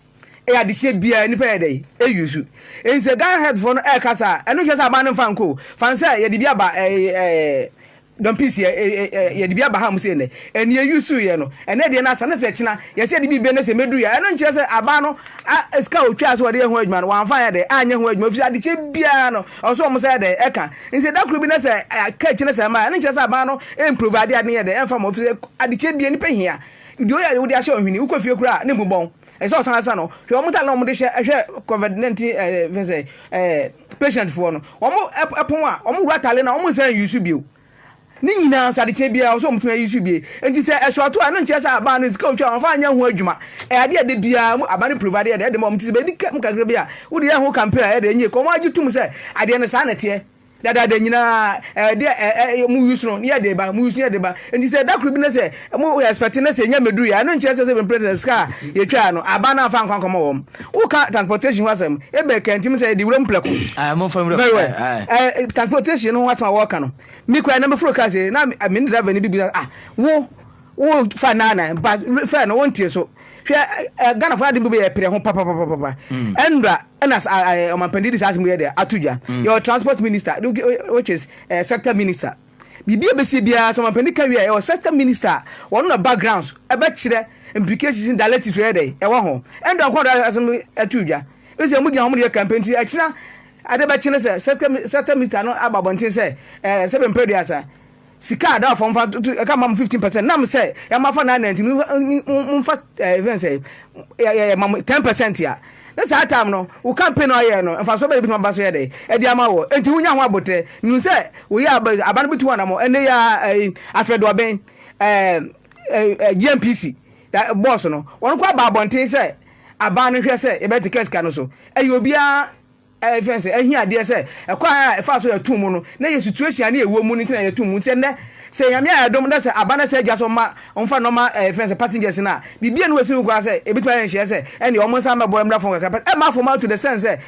Ɛyɛ adekyeɛ biara nipa yɛ dɛn e use. Nti sɛ Ghana health foɔ no ɛɛka saa a ɛno nkyerɛ sɛ aban no nfa nkɔ o. Fa no sɛ yɛde bi aba ɛɛ ɛɛ dɔm pii si yɛde bi aba ha mu sɛ nnɛ ɛne yɛyi so yɛ no ɛnɛ deɛ no asa ne sɛ kyena yɛsɛ yɛde biribi ne sɛ mɛduru yɛ ɛno nkyerɛ sɛ aba no sika ɔtwaa sɛ wɔde yɛ ho adwuma no wɔamfa yɛ dɛ anyɛ ho adwuma ɛfisɛ adekyɛ biara no ɔsɛ ɔmo sɛ yɛ dɛ ɛka nsɛ da koro bi ne sɛ ka kyerɛ sɛ ma ɛno nkyerɛ sɛ aba no ɛmprove ade ade yɛ dɛ ɛmfa mo ɛfisɛ adekyɛ biara nipa hia deɛ ɔyɛ adeɛ wode ahyɛ ɔhwene wokɔ fie koraa ne mu bɔn ɛsɛ ɔsan asa no hwɛ ɔmo ta na ɔmo de hyɛ ɛhwɛ covid 19 ɛɛ fɛsɛ ɛɛ patient foɔ no ɔmo ɛpon a ɔmo wura atare na ɔmo nsa nyi so bio ne nyinaa nso adekyɛ biara ɔsɛ ɔmo tumi ayi so bie nti sɛ ɛsɔɔto a ɛno nkyerɛ sɛ abaa no sika otwa wɔn fa nyɛ ho adwuma ɛyɛ adeɛ ɛde biara mu abaa no provide ɛde ɛde ma ɔmo ti sɛ bɛdi kɛm kakra bi a wode yɛ ho campaign a ɛde enye kɔn wɔn agye tum sɛ adeɛ no saa na ɛteɛ dadaada nyinaa ɛde ɛɛ mo use no ne yɛ de ba mo use no yɛ de ba nti sɛ ɛda koro bi na sɛ Mo yɛ expect na sɛ yɛnya mmɛduru yɛ a, ɛno nkyerɛ sɛ sɛ mprɛ sɛ sika a yɛtwaa no, aba na amfa ankɔ ankɔma wɔn. Woka transportation ho asɛm, ebia ɛkantim sɛ yɛde wuram prɛko. Aye, momfa nwuram. Very well. Aye, aye. Eh, transportation no ho asɛm a wɔreka no, me kura na meforo kaa sɛ, na me ne driver no bi bisa, ah, wo, wo fa nnan nnan, ba, fɛ no, wontie so. Hwɛ, eh, eh, Ghana fo adem bi yɛ pere ho papapapapa. Mm. Ɛnura, ɛna ɔmampanin di saa asɛm yɛ dɛ ato dwa. Mm. Yɛ transport minister, which is uh, sector minister. Biribi a ɛbɛsie biara, sɛ ɔmampanin ka wie a, ɛwɔ sɛ sɛ minister a, wɔn na backgrounds ɛbɛkyerɛ implications ne directives ɛyɛ dɛ ɛwɔ ho. Ɛnde ɔnko ara asɛm no ɛto dwa. Ɛsɛ sɛ wɔn gyina wɔn de yɛ campaign nti ɛkyena ade bɛkye no sɛ sɛsɛ minister no aba abɔnten sɛ ɛɛ sɛbe mpɛduasa sika a da ɔfam fa tutu ɛka mam 15 percent nam sɛ yɛn afa nine ninety mu mfa ɛɛ fɛn sɛ yɛ yɛ mam 10 percent a Ne saa time no wo campaign a ɔyɛɛ no mfasoɔ bɛn na ebetumi aba so yɛ dɛn ɛde ama wɔ? Enti wonya ho aboterɛ. Mihu sɛ woyɛ aba aba no betu anamɔ ɛnɛ yi ara ɛyi Afrɛduɔben ɛɛ GNPC ɛ boss no wɔn koraa baa abɔnten sɛ aban no nhwɛ sɛ yɛbɛte kɛsika no so. Ɛyɛ obiara. Ɛfiri sɛ ahiadeɛ sɛ ɛkwan a ɛfa so yɛto mu no na yɛ situation a na yɛwɔ mu no nti na yɛto mu. Nti sɛ nnɛ sɛ Nyame ayɛ adom na sɛ aba na sɛ agya so ma ɔmfa nnɔma ɛfiri sɛ passengers no a biribi a na wɔasi ho kwan sɛ ɛbɛtumi ayɛ nhyeɛ sɛ ɛnneɛ wɔn nsa mmɛbɔ mmra fam kakra pɛ ɛmma fam to the sense sɛ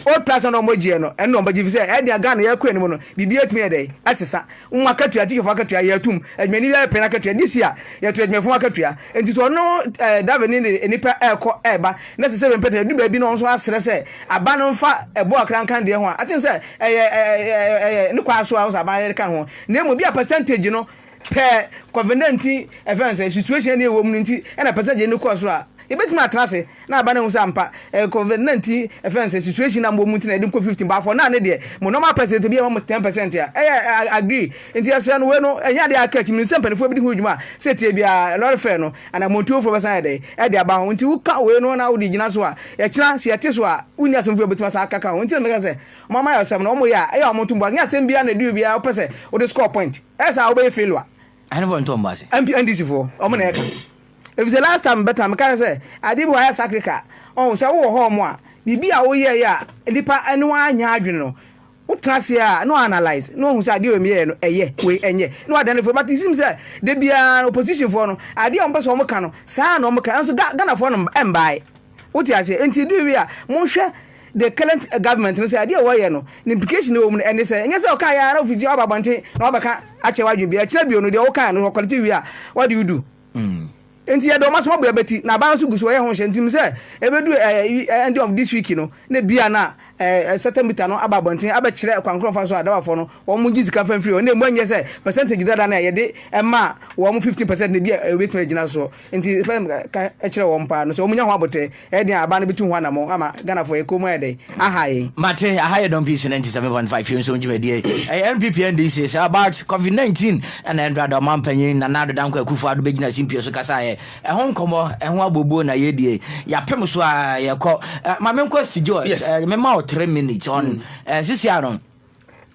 old price no a wɔgyeɛ no ɛno na wɔbɛgye ɛfiri sɛ ɛnneɛ Ghana yɛkɔ anim no biribiara tumi yɛ dɛn ɛsesa Wɔn akatua, atikyafoɔ akatua, yɛ atum. Adwumani biara pɛ n'akatua. This year, yɛto adwumayɛfoɔ ho akatua. Enti so ɔno eh, driver no de nnipa ɛrekɔ ɛreba, na sɛ sɛ bɛmpɛ tena, ɛdu baabi na ɔno nso asrɛ sɛ aban no mfa ɛboɔ kakra nka ne deɛ ho a, aten sɛ ɛyɛ ɛyɛ ɛyɛ ne kwaa so a ɔsɛ aban de ka ne ho. Na mmom, bi a percentage no pɛ kɔvendanti ɛfɛn sɛ situation ne ɛwɔ mu no nti ɛna percentage no kɔɔ soro a, yɛbɛtumi atena ase. na aba na ehu sɛ ampa eh covid 19 ɛfɛn sɛ situation na mbɔ mu nti na yɛde nkɔ 15 but for now ne deɛ mo normal percent ebi yɛ ma mo 10 percent a ɛyɛ eh, I agree nti yɛsrɛ no wei no ɛnyɛ adeɛ aka akyi menim sɛ mpanimfoɔ bi de ho dwuma a sɛ tie biara lɔre fare no anaa mmontuofoɔ bɛsan ayɛ dɛn ɛde aba ho nti woka wei no na wode gyina so a yɛkyena sɛ yɛte so a wonni asɛm fo yɛbɛtumi asan akaka ho nti na meka sɛ wɔn ama yɛ ɔsɛm no wɔn yɛ a ɛyɛ wɔn ntom bɔ nyɛ asɛm biara na ɛdi obiara wopɛ sɛ wode score point ɛyɛ saa wobɛyɛ failure Ahenfoɔ nto wɔn bo ase. MP NDC foɔ wɔn na ɛka Efisɛ last time mebɛka no mekae sɛ adeɛ bi wɔ hɔ a ayɛ sacrica. Ɔho sɛ wowɔ hɔ nom a biribi a woyɛeɛ a nnipa ne woanyɛ adwene no wotena aseɛ a na w'analyse na woahu sɛ adeɛ wei meyɛeɛ no ɛyɛ wei ɛnyɛ na w'adane firi but it seems sɛ da biara no opposition foɔ no adeɛ a wɔpɛ sɛ wɔka no saa na wɔka nanso Ghana foɔ no mbae wote aseɛ nti ɛdu wie a monhwɛ the current eh, government no sɛ adeɛ a wɔyɛ no ne implication wɔ mu no ɛne sɛ ɛnyɛ sɛ ɔka yɛ ara na wofiti aba abɔnten na wabɛka akyɛ w'adwene bi ɛkyerɛ bio no deɛ woka no ɔkɔlete wie a what do you do Mm. Nti yɛde ɔma soma bua bɛti na aban nso gu so ɔyɛ ho nhyɛ ntim sɛ ɛbɛduru ɛɛ eh, end of this week no na bia na ɛɛ eh, certain meter no aba abɔnten abɛkyerɛ kwan korɔ mfa so a dawafoɔ no wɔn gye sika mfa mfiri hɔ na emu anyɛ sɛ percentage dada no a yɛde ɛma wɔn 15 percent na bia ɛbɛtumi agyina soɔ nti pɛ ka kyerɛ wɔn paa no sɛ wɔn nya ho abotɛ Ɛyɛ den a aban no betu ho anammɔn ama Ghanafoɔ, yɛn kɔn mu ayɛ dɛ, aha yɛn. Mate aha yɛ dɔm peace ninety seven point five Fiewnsɔn dwumadie ɛyɛ NPP NDC saa but covid nineteen ɛna ɛndra da ɔman panyin Nana Addo Dankwa Akufo Addo bɛgyina simpie so kasaeɛ ɛho nkɔmɔ ɛho abooboo na yɛdie yɛapem so a yɛkɔ ma menkɔ Sigye ɔ me ma wo three minutes ɔn sisi ano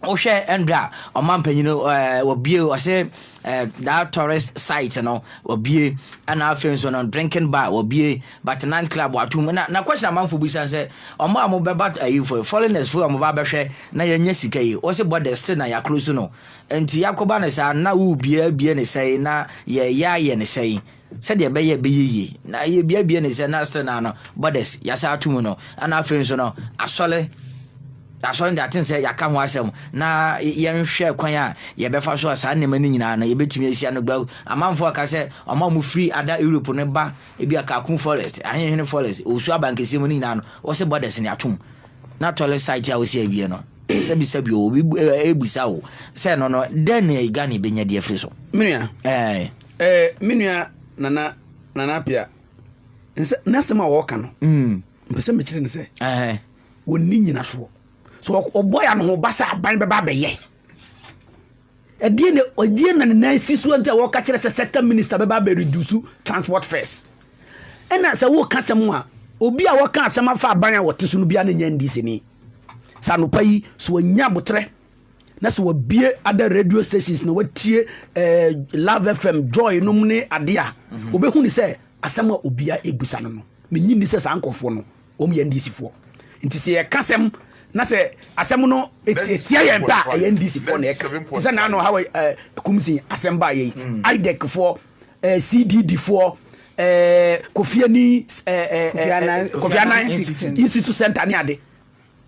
Wohwɛ ndɛ a ɔman panyin no ɛɛ wɔbue ɔse ɛɛ that tourist site no wɔbue ɛna afei nso no drinking bar wɔbue but night club watum na na question amanfo bi san sɛ ɔmo a ɔmo bɛba ɛyi fo foreigners fo a ɔmo ba abɛhwɛ na yɛnyɛ sika yi wɔse borders still na yɛakoro so no nti yɛakɔba ne saa na wubue abue ne sɛe na yɛyɛ ayɛ ne sɛe sɛdeɛ ɛbɛyɛ ɛbɛyɛ yie na yɛbiabia ne sɛ na still na no borders yɛasa ato mu no ana afei nso no asɔre asɔre de aten sɛ yɛaka ho asɛm na yɛnhwɛ kwan a yɛbɛfa so a saa nneɛma no nyinaa no yɛbɛtumi asi ano gbaw amanfoɔ aka sɛ ɔma ɔmo firi ada Europe no ba ebi a Kakum forest ahenhene forest Owusu abankɛseɛ mu no nyinaa no wɔsɛ borders ne atom na toilet site a wɔsi awie no sɛbisɛbi o obi ɛbisa o sɛ no no dɛn na Ghana bɛnya di afiri so menua ɛɛ Eh, me nua Nana Nana Apia, nsɛ n'asɛm a wɔka no. Mm. Mpɛ sɛ mekyerɛ ne sɛ. Eh. Wɔnni nyinasoɔ. So ɔbɔ yɛ ano ba sɛ aban bɛba abɛyɛ. Ɛdeɛ na ɛdeɛ na ne nan si so nti a wɔka kyerɛ sɛ sector minister bɛba abɛ reduce transport fares. Ɛna sɛ wɔka sɛm a obi a wɔka asɛm afa aban a wɔte so no biara ne nyɛ NDC ni. Sɛ anopa yi so wɔnya abotrɛ na sɛ wabie ada radio stations na watie eh, love fm joy nom ne ade a mhm. wobɛhu ne sɛ asɛm a obia ɛbusa no no menyi nni sɛ saa nkurɔfoɔ no wɔm yɛ ndcfoɔ nti sɛ yɛka sɛm na sɛ asɛm no ɛtia yɛn pɛ a ɛyɛ ndcfoɔ na ɛka te sɛ naano hawa eh, kumsi asɛm baa yɛi mm. idecfoɔ eh, cddfoɔ eh, kofiani kofianan institute center ne ade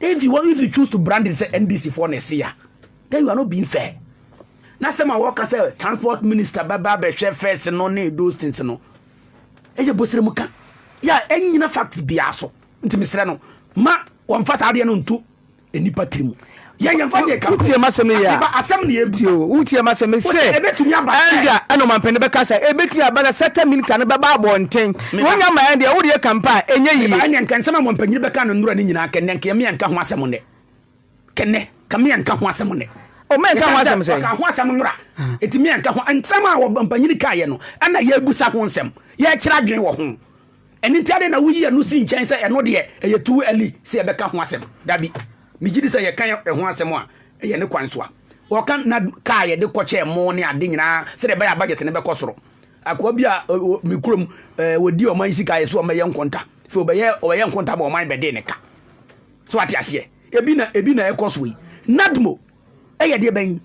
Dɛn nti wɔn if you choose to brand it sɛ NDC foɔ na ɛsi ya then you are not being fair. Na sɛm a wɔka sɛ transport minister bɛba abɛhwɛ fɛs no ne those things no ɛyɛ bosire mu ka yɛ a ɛnyina fact biara so nti mesrɛ no ma wɔmfa saa adeɛ no nto nnipa tiri mu wotie masɛm no yɛ wotie masɛm sɛ ɛnda ɛna ɔmampɛne bɛka sɛ ɛbɛtumi aba sɛ sɛta minita no bɛba abɔnten Wonya ma yɛn deɛ, wo deɛ ka mpo a, ɛnyɛ yie. Me ba, ɛneɛ nka nsɛm a mo mpanyini bɛkaa no nnora no nyinaa, kɛ nnɛ, nka yɛn mmea nka ho asɛm nnɛ. Kɛ nnɛ, nka mmea nka ho asɛm nnɛ. O, mmea nka ho asɛm sɛn? Ɛsiane sɛ wɔkaa ho asɛm nnora, enti mmea nka ho. Nsɛm a wɔn mpanyini kaeɛ no, ɛna yɛrebisa ho nsɛm, yɛrekyerɛ adwene wɔ ho. Ɛno nti, adɛn na woyi ɛno si nkyɛn sɛ ɛno deɛ, ɛyɛ too early sɛ yɛbɛka ho asɛm? Dabi, megye di sɛ yɛka ɛho asɛm a, ɛyɛ ne kwan so a. Wɔka, na kaa yɛde kɔkyɛɛ mo ne ade nyinaa, sɛdeɛ ɛbɛyɛ a budget no bɛkɔ soro. Akoa bi a ɔwɔ me kurom, ɛɛ wɔdi ɔman sika yɛ so wɔn bɛyɛ nkonta. Fɛ ɔbɛyɛ ɔbɛyɛ nkonta ma ɔman bɛdee ne ka. So ate aseɛ? Ebi na ebi na ɛkɔ so yi. NADMO ɛyɛ deɛ bɛn?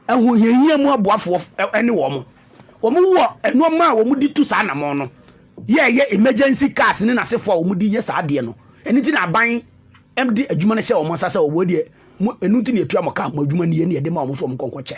Ahohiahia mu aboafoɔ ɛne wɔn. Wɔn wɔ nneɛma a wɔn de tu saa anamɔn no. Yɛ ɛyɛ emergency cars ne n'asefoɔ a wɔn de yɛ saa adeɛ no. Ɛno nti na aban ɛde adwuma no hyɛ wɔn nsa sɛ wɔn deɛ mo ɛno nti na yɛtua mo ka, mo adwuma nie na yɛde ma wɔn so wɔn nkɔ nkɔkyɛ.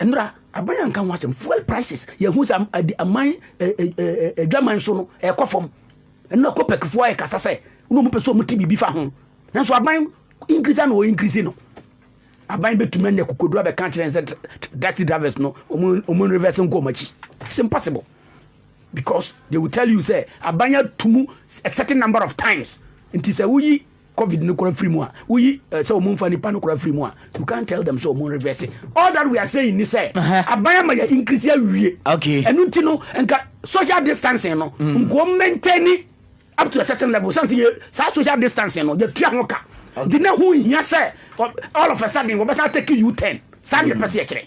Nnora aban anka ho asɛm fuel prices yɛhu sɛ aman adwaman so no ɛkɔ fam ɛno akɔpɛkifoɔ ayɛ kasa sɛ wona ɔmopɛ sɛ ɔmote biribi fa ho nanso aban increase na ɔ increase no aban bɛtumi anya kokoduro abɛka kyerɛ sɛ taxi drivers no ɔmo reverse nkɔ ɔmo akyi it's impossible because they will tell you sɛ aban atumu a certain number of times nti sɛ woyi Covid no kora firi mu a woyi eh, sɛ wɔn nfa nipa no kora firi mu a you can't tell them sɛ wɔn reverse it. All that we are saying ni sɛ aban ama yɛ increase awie. Okay. Ɛnu nti no nka social distancing no mm. nko maintain ni up to a certain level sanni yɛ saa social distancing no yɛ tua ho ka. Di na ho hia sɛ all of a sudden wɔbɛsa take you ten. Saa ni yɛ pɛ se yɛ kyerɛ.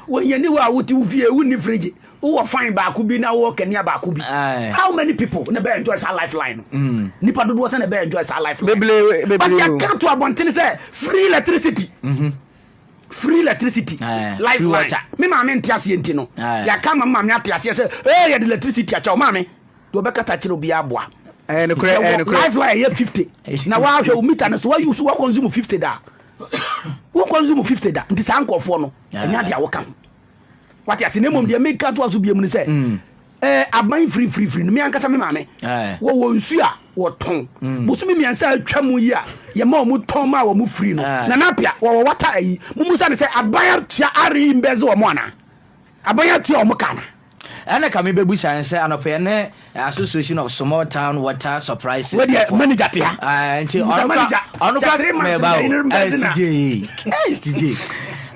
Wɔ yɛn aniwa a wote wo fie wonni firigye wowɔ fan baako bi na wowɔ kanea baako bi how many people na ɛbɛyɛ enjoy saa life line no mm. nipa dodoɔ sɛ na ɛbɛyɛ enjoy saa life line but yɛka to abɔntene sɛ free electricity mhm. free electricity life line me maame nte aseɛ nti no yɛaka ma maame ate aseɛ sɛ ee yɛde electricity akyɛw maame deɛ ɔbɛkata kyerɛ obiara aboa life line yɛ fifty na wahwɛ wo mita no so wayi so wakonsume fifty da wakonsume fifty da nti saa nkɔfoɔ no ɛnyɛ adeɛ a woka ho wate ase na mmom deɛ meka toa so biom no sɛ mm. eh, aban firifirifiri no me ankasa me maame eh. wɔwɔ nsu a wɔtɔn mm. bosome mmiɛnsa atwa mu yi a yɛma ɔmo tɔn ma wɔn firi no eh. na napia wɔwɔ wata ayi mo mu sani sɛ aban atua are mbɛzi wɔn ana aban atua wɔn ka ana. Ɛna ka me bɛbu sa nsɛ anɔpɛ yɛ ne association of small town water supply system. Wei deɛ manager te ha. Uh, nti ɔno kwa ɔno kwa mɛba o. Eh, CJ, eh, CJ.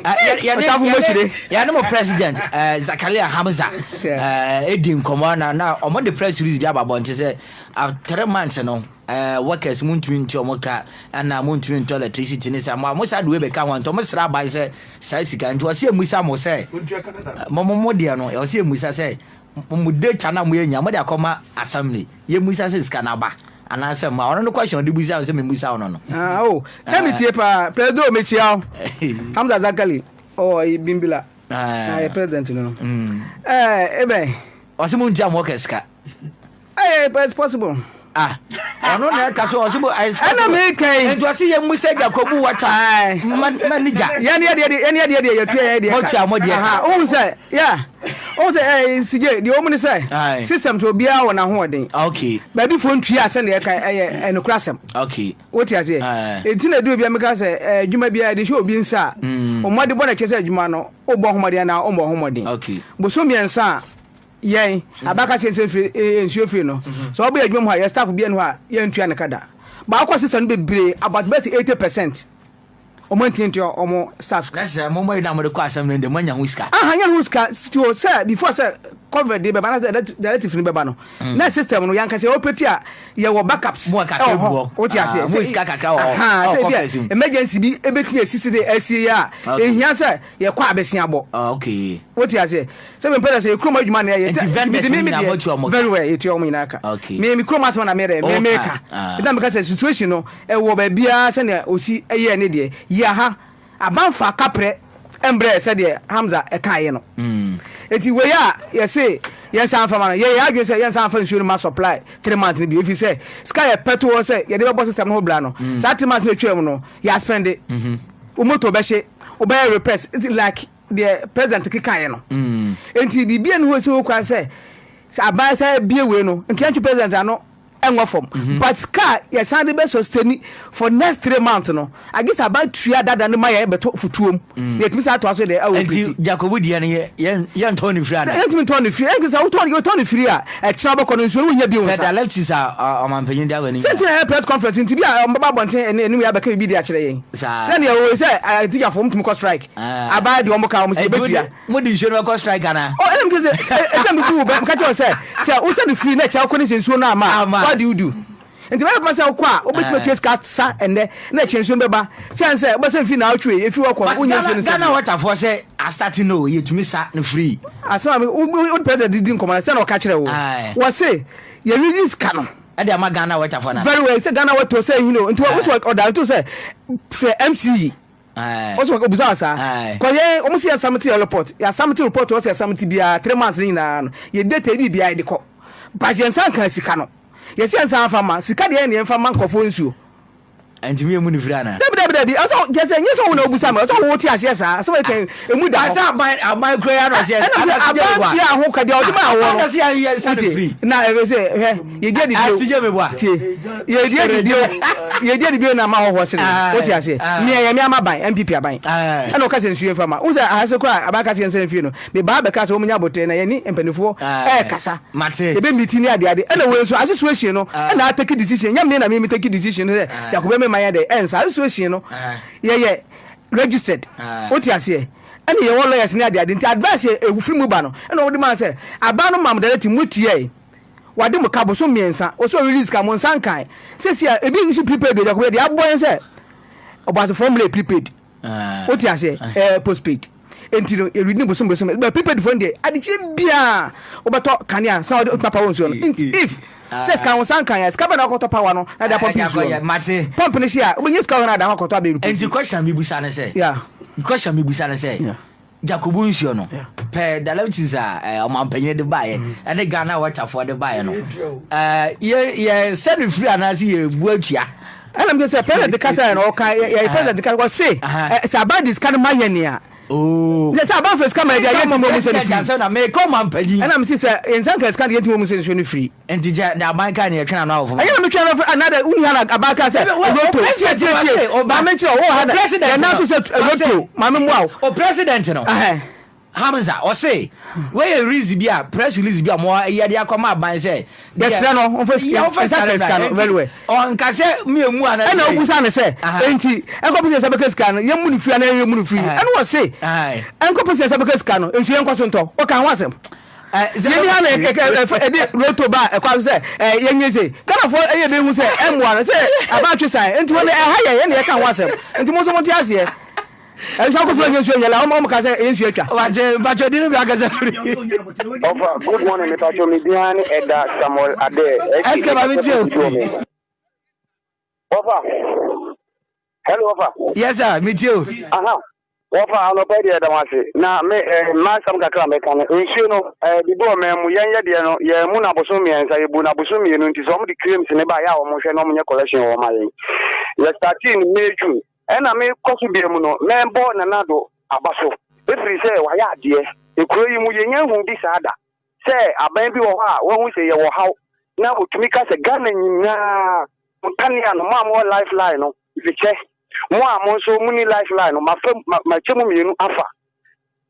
Ɔtafo Moshire. Yɛ ne mo president eh, Zakaria Hamza eh, edi nkɔmɔ na na ɔmo de press release bi aba bɔnte sɛ after three months no. Eh workers mo ntumi ntua ɔmo ka ɛna mo ntumi ntɔ electricity ne saa mo a mo saa de wei bɛka ho nti ɔmo sra aban sɛ saa sika nti ɔsi emusa mo sɛ mo mo mo deɛ no ɔsi emusa sɛ mo data na mo yɛ nya mo de akɔma assembly yɛ musa sɛ sika na aba anaasɛ mo a ɔno no question ɔde busa sɛ mi musa ɔno no. Ah oh na mi tie paa president mi kyia o Hamza Zakali ɔwɔ yi bimbila na yɛ president no no ɛɛ ebɛn. Ɔsi mo ntua mo workers ka. Hey, but it's possible. Ah, ɔno na ɛka so ɔsi bo ah, it's possible. Ɛna mi ka yi. Nti ɔsi yɛ mu sɛ gya kɔ bu wata. Ma ma ni gya. Yɛn ni ɛdeɛ deɛ yɛn ni ɛdeɛ deɛ yɛ tuya yɛn deɛ ka. Mo tia mo deɛ ka. Ohun sɛ ya ohun sɛ ɛɛ nsigye deɛ ɔmu ni sɛ system so obiara wɔ n'ahoɔden. Okay. Baabi fo ntuya sɛ deɛ ɛka ɛyɛ ɛnukura sɛm. Okay. O ti aseɛ. Eti na edu obiara mi ka sɛ ɛɛ adwuma biara de hyɛ obi nsa. Ɔmɔden bɔ na kyɛ sɛ adwuma no o bɔ ɔmɔden na o bɔ ɔmɔden. Okay. Bosom mmiɛnsa. Yɛn mhm. abakase nso efiri eh, eh, nsuo efiri no mhm. sɛ ɔbɛ yɛ adwuma mu ha yɛ staff bi ɛnu hɔ a yɛn ntua ne ka da baako sista no bebree about bɛsi eighty percent ɔmo ntumi ntua ɔmo staff. na sɛ mo mo yi na mo de kɔ asɛm no de mo anya ho sika. aha anya ho sika tio sɛ before sɛ covid de bɛba na sɛ relatives no bɛba no mm. na system no yankasa yɛ ɔpɛti a yɛwɔ backups ɛwɔ hɔ o ti aseɛ sɛ sika kakra wɔ hɔ sɛ bi emergency bi ebetumi esisi de ɛsi yɛ a ehia sɛ yɛ kɔ abɛsi abɔ o ti aseɛ. Sɛ me mpɛ dɛ sɛ yɛ kurom adwuma na yɛ yɛ. Nti vendors no nyinaa mo tua wɔn ka? Very well yɛ tua wɔn nyinaa ka. Okay. Me me kurom asɛm na me yɛ dɛ me me ka. Nti na me ka sɛ situation no ɛwɔ baabi ara sɛ nea osi yɛɛ ne deɛ. Yɛ aha aba nfa kaprɛ mbrɛ sɛ deɛ Hamza ɛkaa yɛ no. Nti wei a yɛ se yɛn nsa nfa ma no yɛ yɛ adwene sɛ yɛn nsa nfa nsuo no ma supply three months no bio efiri sɛ sika yɛ pɛ to hɔ sɛ yɛde bɛbɔ system no ho bra no saa three months no etwa mu no yɛ aspɛnde. Wo motor bɛhye, wo bɛyɛ repairs like. deɛ president kekaeɛ no mm. nti biribi ɛne hɔ si ho kwan sɛ sɛ aban sɛ abie wei no nkeantwe president ano ɛnwɔ fam mhm. but car yɛsan de bɛ sustain for next three months no agye sɛ aban tua dada no ma yɛ bɛtɔ futuom mm. yɛtumi sɛ atoa so deɛ ɛwɔ nti jacobo deɛ no yɛntɔ ne firi ana yɛntumi ntɔ ne firi ɛnti sɛ wotɔ ne firi a ɛkyerɛ wobɛkɔ no nsuo no wonya bio nsa pɛdalɛtis a ɔmampanyini de awɔ ne sɛ nti na ɛyɛ press conference nti bi a ɔmbɛba abɔnten ɛne anim yɛ abɛka biribi de akyerɛ yɛn sɛ deɛ wɔwɔ sɛ atigyafoɔ mtumi kɔ strike Abaa de wɔn ka wɔn sɛ yɛbɛtua. Mo de nsuo no bɛkɔ strike anaa. Oh ɛna meka sɛ ɛsɛ mebu wo bɛ meka kyerɛ wo sɛ sɛ wo send free na ɛkyɛ wokɔ ne sɛ nsuo no ama a what do you do nti ɛbɛyɛ papa sɛ wokɔ a wobɛtumi atua sika sa ɛnɛ na ɛkyɛ nsuo no bɛba kyɛn sɛ wobɛsɛn free na awotwe ɛfiri hɔ kɔ no wonyɛ nsuo no sɛ Ghana water foɔ sɛ astate no o yɛtumi sa no free. Asɛm a wode president di nkɔmmɔ no sɛ na ɔka kyerɛ wo wɔ se yɛreyi sika no ɛde ama Ghana water foɔ no very well sɛ Ghana water sɛ ɛhini o nti wotu ɔdare to sɛ frɛ MCE Ɔse wɔ ɔbusa wɔ saa kɔ yɛn ɔmo se yɛ samiti yɛ report yɛ asamiti report ɔse yɛ samiti biara three months ne nyinaa no yɛ data yɛ biribiara yɛ de kɔ but yɛn nsa nka sika no yɛ se yɛn nsa anfa ma sika deɛ yɛn deɛ yɛn fa ma nkorɔfoɔ nsuo. Ɛntumi yɛ mu ne firi anaa. Dabi dabi dabi ɔsɛ gyesɛ nye sɛ wo na obusa me ɔsɛ wo te aseɛ saa asɛm a yɛka yi emu da hɔ. Asa aban aban kura ya na ɔsɛ ɛna hwɛ aban tua ho ka deɛ ɔde maa woɔ no wote na ɛfɛ sɛ hwɛ. yɛdi adi bio Ase gye me boa tie yɛdi adi bio yɛdi adi bio na ama hɔhoɔ sere yɛn Aye, wote aseɛ aye. nea ɛyɛ me ama ban MPP aban Aye. ɛna ɔka sɛ nsuo yɛmfa ma wohu sɛ aha se koraa aban ka sɛ yɛnsra mfie no mebaa bɛkaa sɛ wɔnyɛ aboterɛ na yɛne mpanifoɔ Aye. ɛɛkasa Mate. yɛbɛ meeting ne ade ade ɛna wei nso asesuahyin no Aye. ɛna atake decision ɛnyɛ me na me me take decision no sɛ Aye. Jacob bɛ me ma yɛ dɛ ɛnsa asesuahyin no Aye. yɛyɛ registered Aye. wote aseɛ ɛna yɛwɔ lawyers ne ade ade nti advice yɛ ɛfiri mu ba no ɛna wɔde maa sɛ aban no mam directive motiɛɛ wade mo ka bosom mmiɛnsa ɔsɛ release ka mo nsa nkan sɛsi a ebi nso prepaid ɛdi akɔbɛ deɛ abɔ yɛn sɛ ɔbɔasefoɔ mmerɛ prepaid wote aseɛ ɛɛ postpaid nti no yɛredi ne bosom bosom bɛ prepaid phone deɛ adekyerɛ biara wobɛtɔ kanea san wode otuma power nsuo no nti if sɛ sika ho san kan yɛ sika bɛn na wakɔtɔ power no na de apɔmpi nsuo no mate pɔmpi no hyɛ a wobɛnya sika hɔ no ada hɔ akɔtɔ abɛrɛ nti kɔhyɛ mebusa no sɛ yeah kɔhyɛ mebusa no sɛ yeah Jacob nsuo no pɛɛ dialysis a eh, ɔmampanin de baeɛ mm-hmm. ɛne Ghana wɔtafoɔ de baeɛ no eh, yɛ sɛ no firi anaasɛ yɛbu atua ɛna mke sɛ president kasa yɛ no ɔka yɛyɛ president kasa ɔse eh, sɛ aba de sika no ma yɛ nea oh. sɛ sɛ aba fa sika ma yɛde ayɛ tumi ɔmu sɛ no firi ɛna mese sɛ yɛnsa nka sika de yɛtumi ɔmu sɛ nsuo no firi Enti kyɛ na aban kaa nea ɛtwɛn ano awofo ma. Ɛnyɛ na metwɛn ano afiri another wonni ha na aban kaa sɛ Roto tie tie tie maame nkyerɛ wo wɔ ha na yɛn nan so sɛ Roto maame mmoa wo. O president no Hamza ɔse wei yɛ release bi a press release bi a ɔmo yɛ de akɔ ma aban sɛ yɛsrɛ no ɔmfa sika ɔmfa sika no sika no very well ɔnka sɛ mi emu a na ɛna obu sa no sɛ enti ɛnkɔ pɛsɛ sɛ bɛka sika no yɛn mu no firi anaa yɛn mu no firi ɛna ɔse ɛnkɔ pɛsɛ sɛ bɛka sika no nso yɛn kɔ so ntɔ ɔka ho asɛm Yɛni ha na ɛde roto ba ɛkwan so sɛ yɛnyɛ sei. Ghanafoɔ ɛyɛ dɛ hu sɛ ɛmmoa no sɛ aba atwe san nti wɔn ɛha yɛ yɛn na yɛka ho asɛm nti mo nso mo te aseɛ. Ɛnso akɔfra nyɛ nsuo nyɛ la wɔn ka sɛ nsuo atwa. Wate mpatsɔ di no bi akasa firi. Ɔfa good morning me mpatsɔ me din ara ne ɛda Samuel Adair. SK ma me tie o. Wɔfa. Hello, wɔfa. Yes, sir. Me tie o. Aha. Wɔfa anɔpa deɛ ɛda wase. Na me eh, m'asɛm kakra mɛka no. Nsuo no, eh, bibi wɔ mɛn mu. Yɛn yɛ deɛ no, yɛn mu na abosom mmiɛnsa, yɛbu na abosom mmienu nti sɛ wɔn de claims ne ba yɛ a wɔn hwɛ na wɔn nyɛ collection wɔ wɔn ma yɛn. Yɛ starting May June. Ɛna me kɔ so deɛ mu no, mɛbɔ nana do aba so. Efiri sɛ wayɛ adeɛ. Ekuro yi mu yɛnyɛ hu bi saa da. sɛ aban bi wɔ hɔ a wahu sɛ yɛwɔ haw na ɔtumi ka sɛ Ghana nyinaa nkanea no mo a mowɔ lifeline no mekyɛ mo a mo nso moni lifeline no mafa makyɛ mu mmienu afa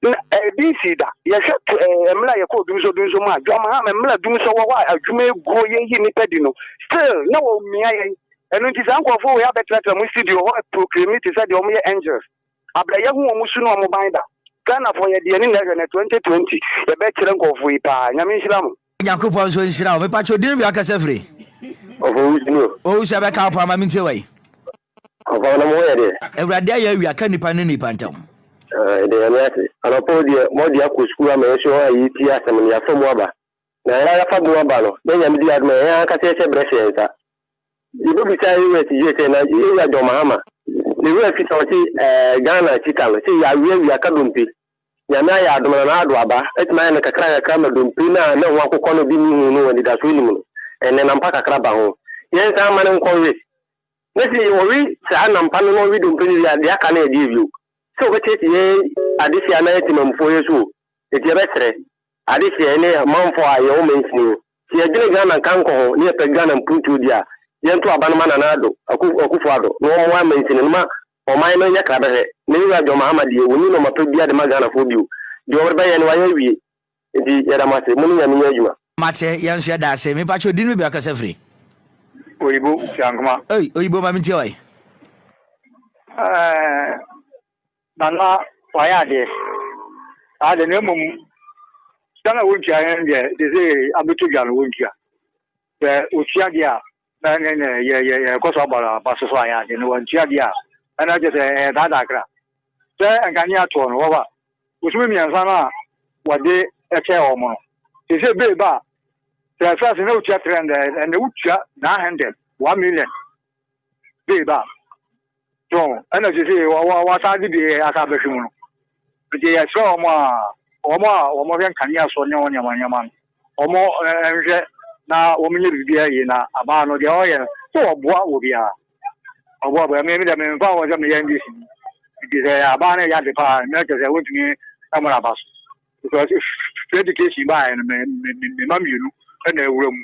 na ɛde eh, nsi da yɛhwɛ eh, mmerɛ a yɛkɔɔ dumsɔ dumsɔ mu a dwamaham mmerɛ dumsɔ wɔ hɔ a adwuma aguo yɛyi nnipa di no still na wɔmmia yɛn ɛno nti saa nkurɔfoɔ wei abɛtratra mu studio hɔ proclaim te sɛ deɛ wɔyɛ angels Abrɛ yɛ ho ɔmo su ne ɔmo ban da. Ghana foɔ yɛde yɛni na ɛhwɛ nɛ 2020 yɛbɛ kyerɛ nkɔɔfoɔ yi paa Nyame nhyira mo. Nyankopɔn nso nhyira wo. Mepa kyɛw din bia kasa firi. Ɔfɔ wo din o. Owu sɛ bɛka wo paa ma mentie wai. Ɔfɔ wo na mo ho yɛ deɛ. Awurade ayɛ awia ka nipa ne nipa ntam. Yɛda Nyame ase. Anɔpa o deɛ moadi akɔ sukuu ama yɛn nso a yɛretie asɛm no yɛafa mu aba. Na hɛn ara famu aba no, dɛ Nyame dzi adom a, hɛn ankasa yɛhyɛ brɛ hyɛ nsa. Yebobisa Ewura Sigyire sɛ, na Ewura John Mahama, na Ewura Fisa a ɔtse Ghana Chita no, sɛ yɛawea wia ka dompe, Nyame ayɛ adom na n'ado aba, etumi ayɛ no nkakrankakra ma dompe no a na hom akokɔ no dze no hu no wɔ anidaso enyim no, ndɛ na mpa kakra ba ho. Yɛnsan mma no nkɔwe. Na sɛ ɔwe saa na mpa no na ɔwe dompe no wie a, dza aka no yɛ dɛ bio? Sɛ ɔbɛtseetse hɛn adesua anaa yɛtse Mamufo ɔyɛ so o, ntsi yɛbɛserɛ, Adehyeɛ ne amanfoɔ a yɛwɔ mansini yi, sɛ yɛdwene Ghana nkankɔ ho ne yɛpɛ Ghana mpuntuo di a, yɛnto aba no ma Nana Addo, Akufo Addo, na wɔmmoa mansini no ma ɔman no nyɛ krabɛhwɛ. Ne wura John Mahama deɛ, wɔnni nnoɔma pa biara de ma Ghanafoɔ bio. Deɛ wɔde bɛyɛ no, wɔayɛ awie. Nti yɛda mo ase. Mo ne Nyame nyɛ adwuma. Mate, yɛn nso yɛda ase. Me pa kyɛw, din no bia ɔkasa firi? Oyibo Siankma. Ei, Oyibo ma me ntie wae. Ɛɛɛ Nana wayɛ adeɛ saa deɛ na mmom sika no a wɔntua yɛn deɛ te sɛ abɛtɔ dwa no wɔntua sɛ ɔtua deɛ a na ne ne yɛ yɛ yɛkɔ so abɔ aba so so ayɛ adeɛ no wɔntua deɛ a ɛna kyɛ sɛ ɛyɛ daadaa kra sɛ nkanea toɔ no wɔba bosome mmiɛnsa no a wɔde kyɛ wɔn no te sɛ bee ba a sɛ fɛs na wotua three hundred ɛna wotua nine hundred one million babe a so ɛna sese wɔasan de bie asan bɛhwɛ mu no nti yɛsrɛ wɔn a wɔn a wɔhwɛ nkanea so ne wɔn nneɛma nneɛma no wɔn nhwɛ na wɔn nyɛ biribi ayie na abaa no deɛ ɔyɛ no sɛ ɔboa wɔ biara ɔboa bɔ ɛmi mi dɛ mi nfa wɔn sɛ mi yɛ ndc nti sɛ abaa no yɛ ade paa ɛmi kyɛ sɛ wɔntumi ɛmo na aba so because education baa yɛ no mɛ mɛ mɛ mma mmienu ɛna ɛwura mu.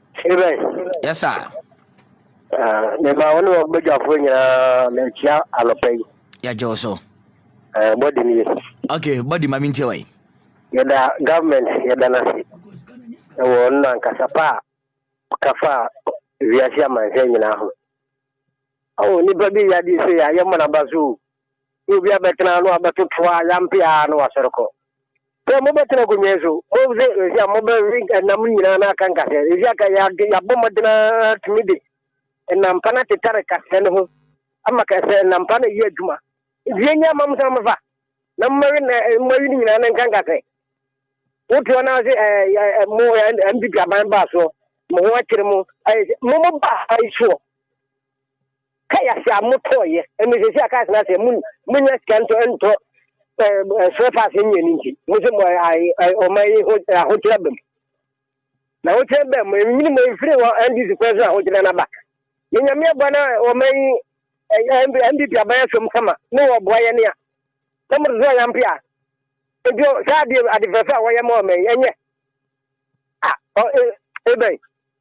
Amen. Yes, sir. Uh, me ma one of Bajafo nyina na chia anopa yi. Ya jo so. Eh, body ni. Okay, body ma mintie wai. Ya da government ya da nasi. E wo na nkasa pa kafa wiase amanhwɛ nyina ho. Awo nipa bi ya di se ya yɛ mana ba so. Ne obi abɛtena ano abɛtoto a yampe a na wasɔre kɔ. Sɛ mobɛtena akonnwa so, mose ɛsi a mobɛwe ɛnam nyinaa na aka nkasɛ. Ɛsi aka yɛabɔ mmɔden ara tumi de ɛnampa no atetare kasɛ no ho ama kasɛ ɛnampa no yɛ adwuma. Nti yɛnyɛ ama mo sɛ mofa na mmawe na mmawe no nyinaa na nka nkasɛ. Wotoɔ no ase ɛɛ mo MPP aban baa soɔ mo ho akyere mo ɛɛ mo mo baa ayi soɔ. Kai ase a motɔɔ yɛ ɛne sɛ si a kai ase a mo mo nya sika ntɔ ntɔ ɛɛ ɛsrɛ fa ase nyɛ ne nti mo sɛ mo ayɛ ɔma yi ho ahokyerɛ bɛm na ahokyerɛ bɛm mo nyini mo efiri wɔ ndc fɛ so ahokyerɛ na ba ne nyame aboa na ɔma yi ɛɛ ndp aban asɛm kama ne wɔ boa yɛ ne a sɛ mo so yampe a ebi saa adeɛ adefɛfɛ a wɔyɛ ma ɔma yi ɛnyɛ a ɔ ebɛn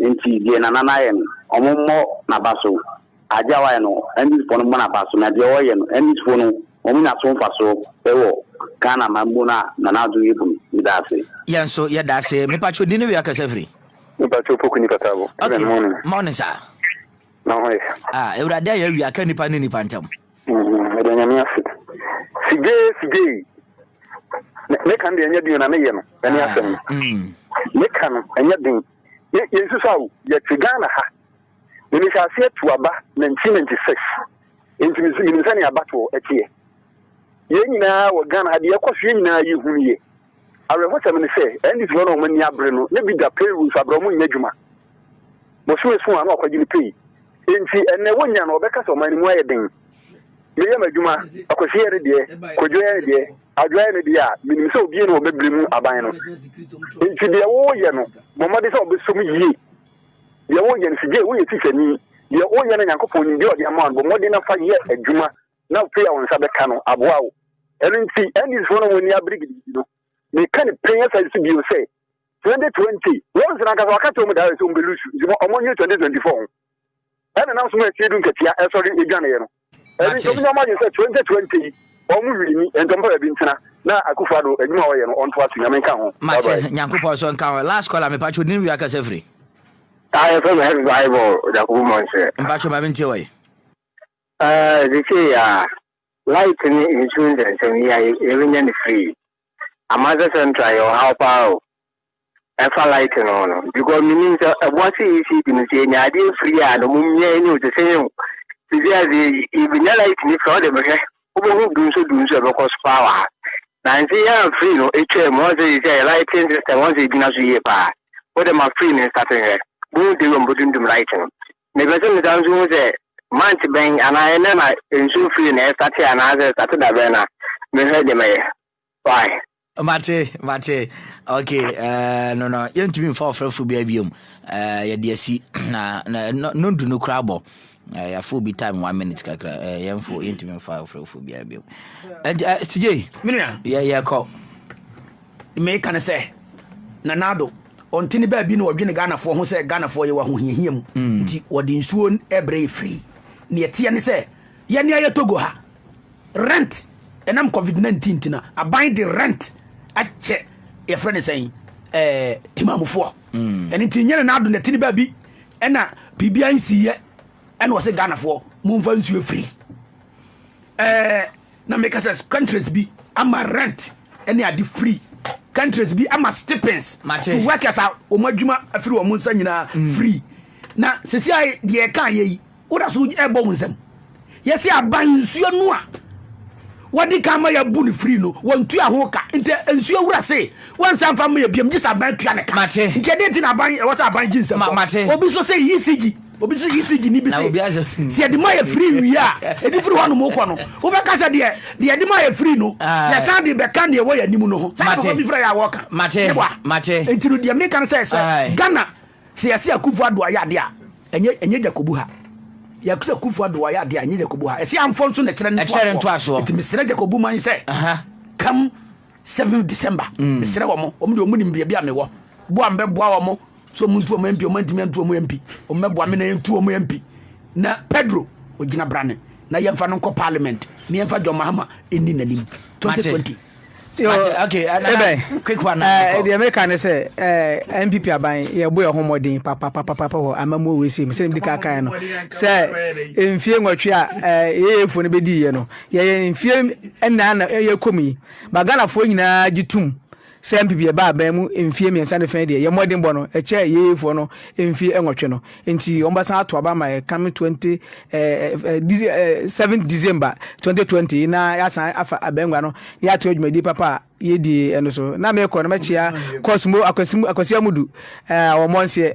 Enti deɛ Nana no ayɛ no, wɔmmɔ n'aba so. Adeɛ a wayɛ no, NDCfoɔ no mmɔ n'aba so. Na deɛ wɔreyɛ no, NDCfoɔ no, wɔnnya so mfasoɔ wɔ Ghana man mu no a Nana Addo yɛ bu no. Meda ase. Yɛn nso yɛda ase. Mepa kyɛw, din ne wia kasa firi? Mepa kyɛw, Opoku Nipa Tabo. Okay, morning sir. Na ho yɛ? Ah, Awurade ayɛ awia ka nipa ne nipa ntam. Mm, meda Nyame ase. Sigye sigye yi. Ne kan de ɛnyɛ den na ne yɛ no. Ɛne ah, asɛm. Mm. Ne kan no ɛnyɛ den. Yɛn susu awo yɛte Ghana ha. Ne mehyɛ aseɛ tu aba 1996. Nti menim sɛnea abatoɔ ɛteɛ. Yɛn nyinaa wɔ Ghana ha deɛ ɛkɔ so yɛn nyinaa yɛhunu yɛ. Awerɛhosɛm ne sɛ, NDCfoɔ no a wɔn ani abere no, na bi da payroll nso abrɛ, wɔnnyɛ adwuma. Bosome so a na wɔakwagye ne pay. Enti ɛnnɛ wɔnya no, wɔbɛka sɛ ɔman no mu ayɛ den. Meyɛ m'adwuma, Akwasi yɛ ne deɛ, Kwadwo yɛ ne deɛ, Adwo ayɛ ne deɛ a, menim sɛ obiara nni hɔ a ɔbɛbere mu aban no. Enti deɛ woreyɛ no, bɔ mmɔden sɛ wobɛsɔ mu yie. Deɛ woreyɛ no, sigye, woyɛ tikyani, deɛ woreyɛ no Nyankopɔn nim, deɛ ɔde ama wo no, bɔ mmɔden na fa yɛ adwuma. na afei a wo nsa bɛka no aboa wo. Ɛno nti, Andes-foɔ no a wɔn ani abere gidigidi no, meka no pɛn asan nso bio sɛ, 2020, wɔn soro ankasa wɔaka kyerɛ wɔn daa sɛ wɔbɛlusu, nti wɔn wɔn nyɛ 2024 ho. Ɛna nam so ma atie du nkatia ɛsɔre edwaneɛ no. Ɛno nti, wɔn nyɛ wɔn adwene sɛ 2020 yi, wɔn mu hwiri ni, nti wɔn pɛ baabi ntena, na Akufo-Addo adwuma a ɔyɛ no ɔntoa so, Nyame nka ho. Mate, Nyankopɔn nso nka ho. Last caller, me pacho, din wia kasa firi. Ayɛ fɛ bɛ hɛ bible Jacob Monsɛ. Mpacho ma mintie wɔ yi. Sesei a, light ne nsu nsɛnsɛm yi a yɛrenya no firi Amasa Central yɛ ɔhaw paa o. Ɛfa light no ho no, because menim sɛ ɛboa sɛ ECD no sɛ yɛnya adeɛ firi a na ɔmo mmea ɛnyɛ o te sɛ yɛn o. Sesei a sɛ yɛbɛnya light no firi a ɔde mehwɛ wobɛhu du nso du nso ɛbɛkɔ so paa wɔ ha. Nanse yɛ a firi no ɛtwaa mu ɔn sɛ sesei yɛ lighting system ɔn sɛ ɛgyina so yie paa. Wode ma firi no nsate nhwɛ, bohu de wɔ mbɛdundum light no. Mepɛ sɛ mesan nso hu sɛ month bɛn anaa ɛnɛ na nsuo firi na ɛsate anaasɛ ɛsate da bɛn na mehwɛ de mɛyɛ. Why? Mate, mate. Ok, eh, no, no, yɛntumi mfa ɔfrɛfo bi abiom. Eh, yɛde asi, na, na, no, no du no koraa bɔ. Eh, yɛafo obi time one minute kakra. Eh, yɛmfo, yɛntumi mfa ɔfrɛfo bi abiom. Eh, eh, CJ. Menua. Yɛ, yɛkɔ. Meeka no sɛ Nana Addo, ɔnte ne baabi na ɔdwene Ghanafoɔ ho sɛ Ghanafoɔ yɛwɔ ahohiahia mu mm. nti wɔde nsuo ɛbrɛ yɛ firi. Neɛ ɛteɛ ne sɛ yɛne ayɛ Togo ha rent ɛnam COVID-19 nti na aban de rent akyɛ yɛfrɛ ne sɛn ɛɛ timamufoɔ. Mm. Ɛno nti nyɛ Nana Addo na ɛte ne baabi ɛna biribiara nsiiɛ ɛna ɔsɛ Ghanafoɔ momfa nsuo firi. ɛɛ na meka sɛ countries bi ama rent ɛne ade free countries bi ama stipends to workers a wɔn adwuma afiri wɔn nsa nyinaa mm. free na sisi a deɛ ɛka yɛ yi woda so ɛbɔ wɔn nsam yɛsi aban nsuo no a wɔde ka ama yɛ bu no free no wɔn tu aho ka nti nsuo wura se wɔn nsa nfa ma yɛ biam gye sɛ aban tua ne ka nti ɛde ti na aban ɛwɔ sɛ aban gye nsɛm obi nso sɛ ecg. obi sɛ ecg ne bi sɛ sɛ yɛde ma yɛ firi wie a ɛde firi hɔ nom kɔ no wobɛka sɛ deɛ deɛ ɛde ma yɛ firi no ah. yɛsan de bɛka neɛ ɛwɔ yɛ anim no ho saa papa bi frɛ yɛ a wɔka nti no deɛ meka no sɛ sɛ ghana sɛ yɛse akufo ado ayɛ adeɛ a ɛnyɛ ɛnyɛ jakobu ha yɛsɛ akufo ado ayɛ adeɛ a ɛnyɛ jakobu ha ɛsɛ amfɔ nso na ɛkyerɛ no ntoasoɔ nti mesrɛ jakobu man sɛ kam 7 December mm. mesrɛ wɔn wɔn deɛ wɔn nim baabi a mewɔ boa mbɛ boa wɔn so wɔn ntu wɔn mpi wɔn ntumi ntu wɔn mpi wɔn mɛ boa mi na yɛn ntu wɔn mpi na Pedro ogyina brane na yɛn fa no nkɔ parliament na yɛn fa John Mahama ɛni n'anim 2020. Okay, uh, Ebe, quick one. Uh, the American is a uh, MPP aban yɛ bo yɛ ho mɔden papa papa papa wɔ amamu wɔ esi mu sɛ ɛdi kakra no sɛ mfie nwɔtwe a yɛyɛ fo no bɛdi yɛ no Yɛyɛ mfeɛ nnan na yɛkɔ mu yi, ma Ghanafoɔ nyinaa gye tom sɛ NPP ɛba aban mu mfeɛ mmiɛnsa ne fɛn deɛ, yɛn mmɔdenbɔ no, ɛkyɛɛ YEAfoɔ no mfeɛ nwɔtwe no. Enti wɔbɛsan ato aba ama yɛn coming 20, eh, 7 December 2020 yi na yɛasan afa abangua no na yɛato adwumadie papa a yɛdie no so. Na mekɔ no mɛkyea Cosmo Akwasi Amudu, eh, Awɔmmɔnseɛ.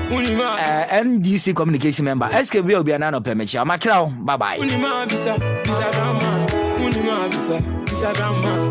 Eh, NDC communication member. SK Bia Obia Nano Pemechia. Makrao. Bye bye.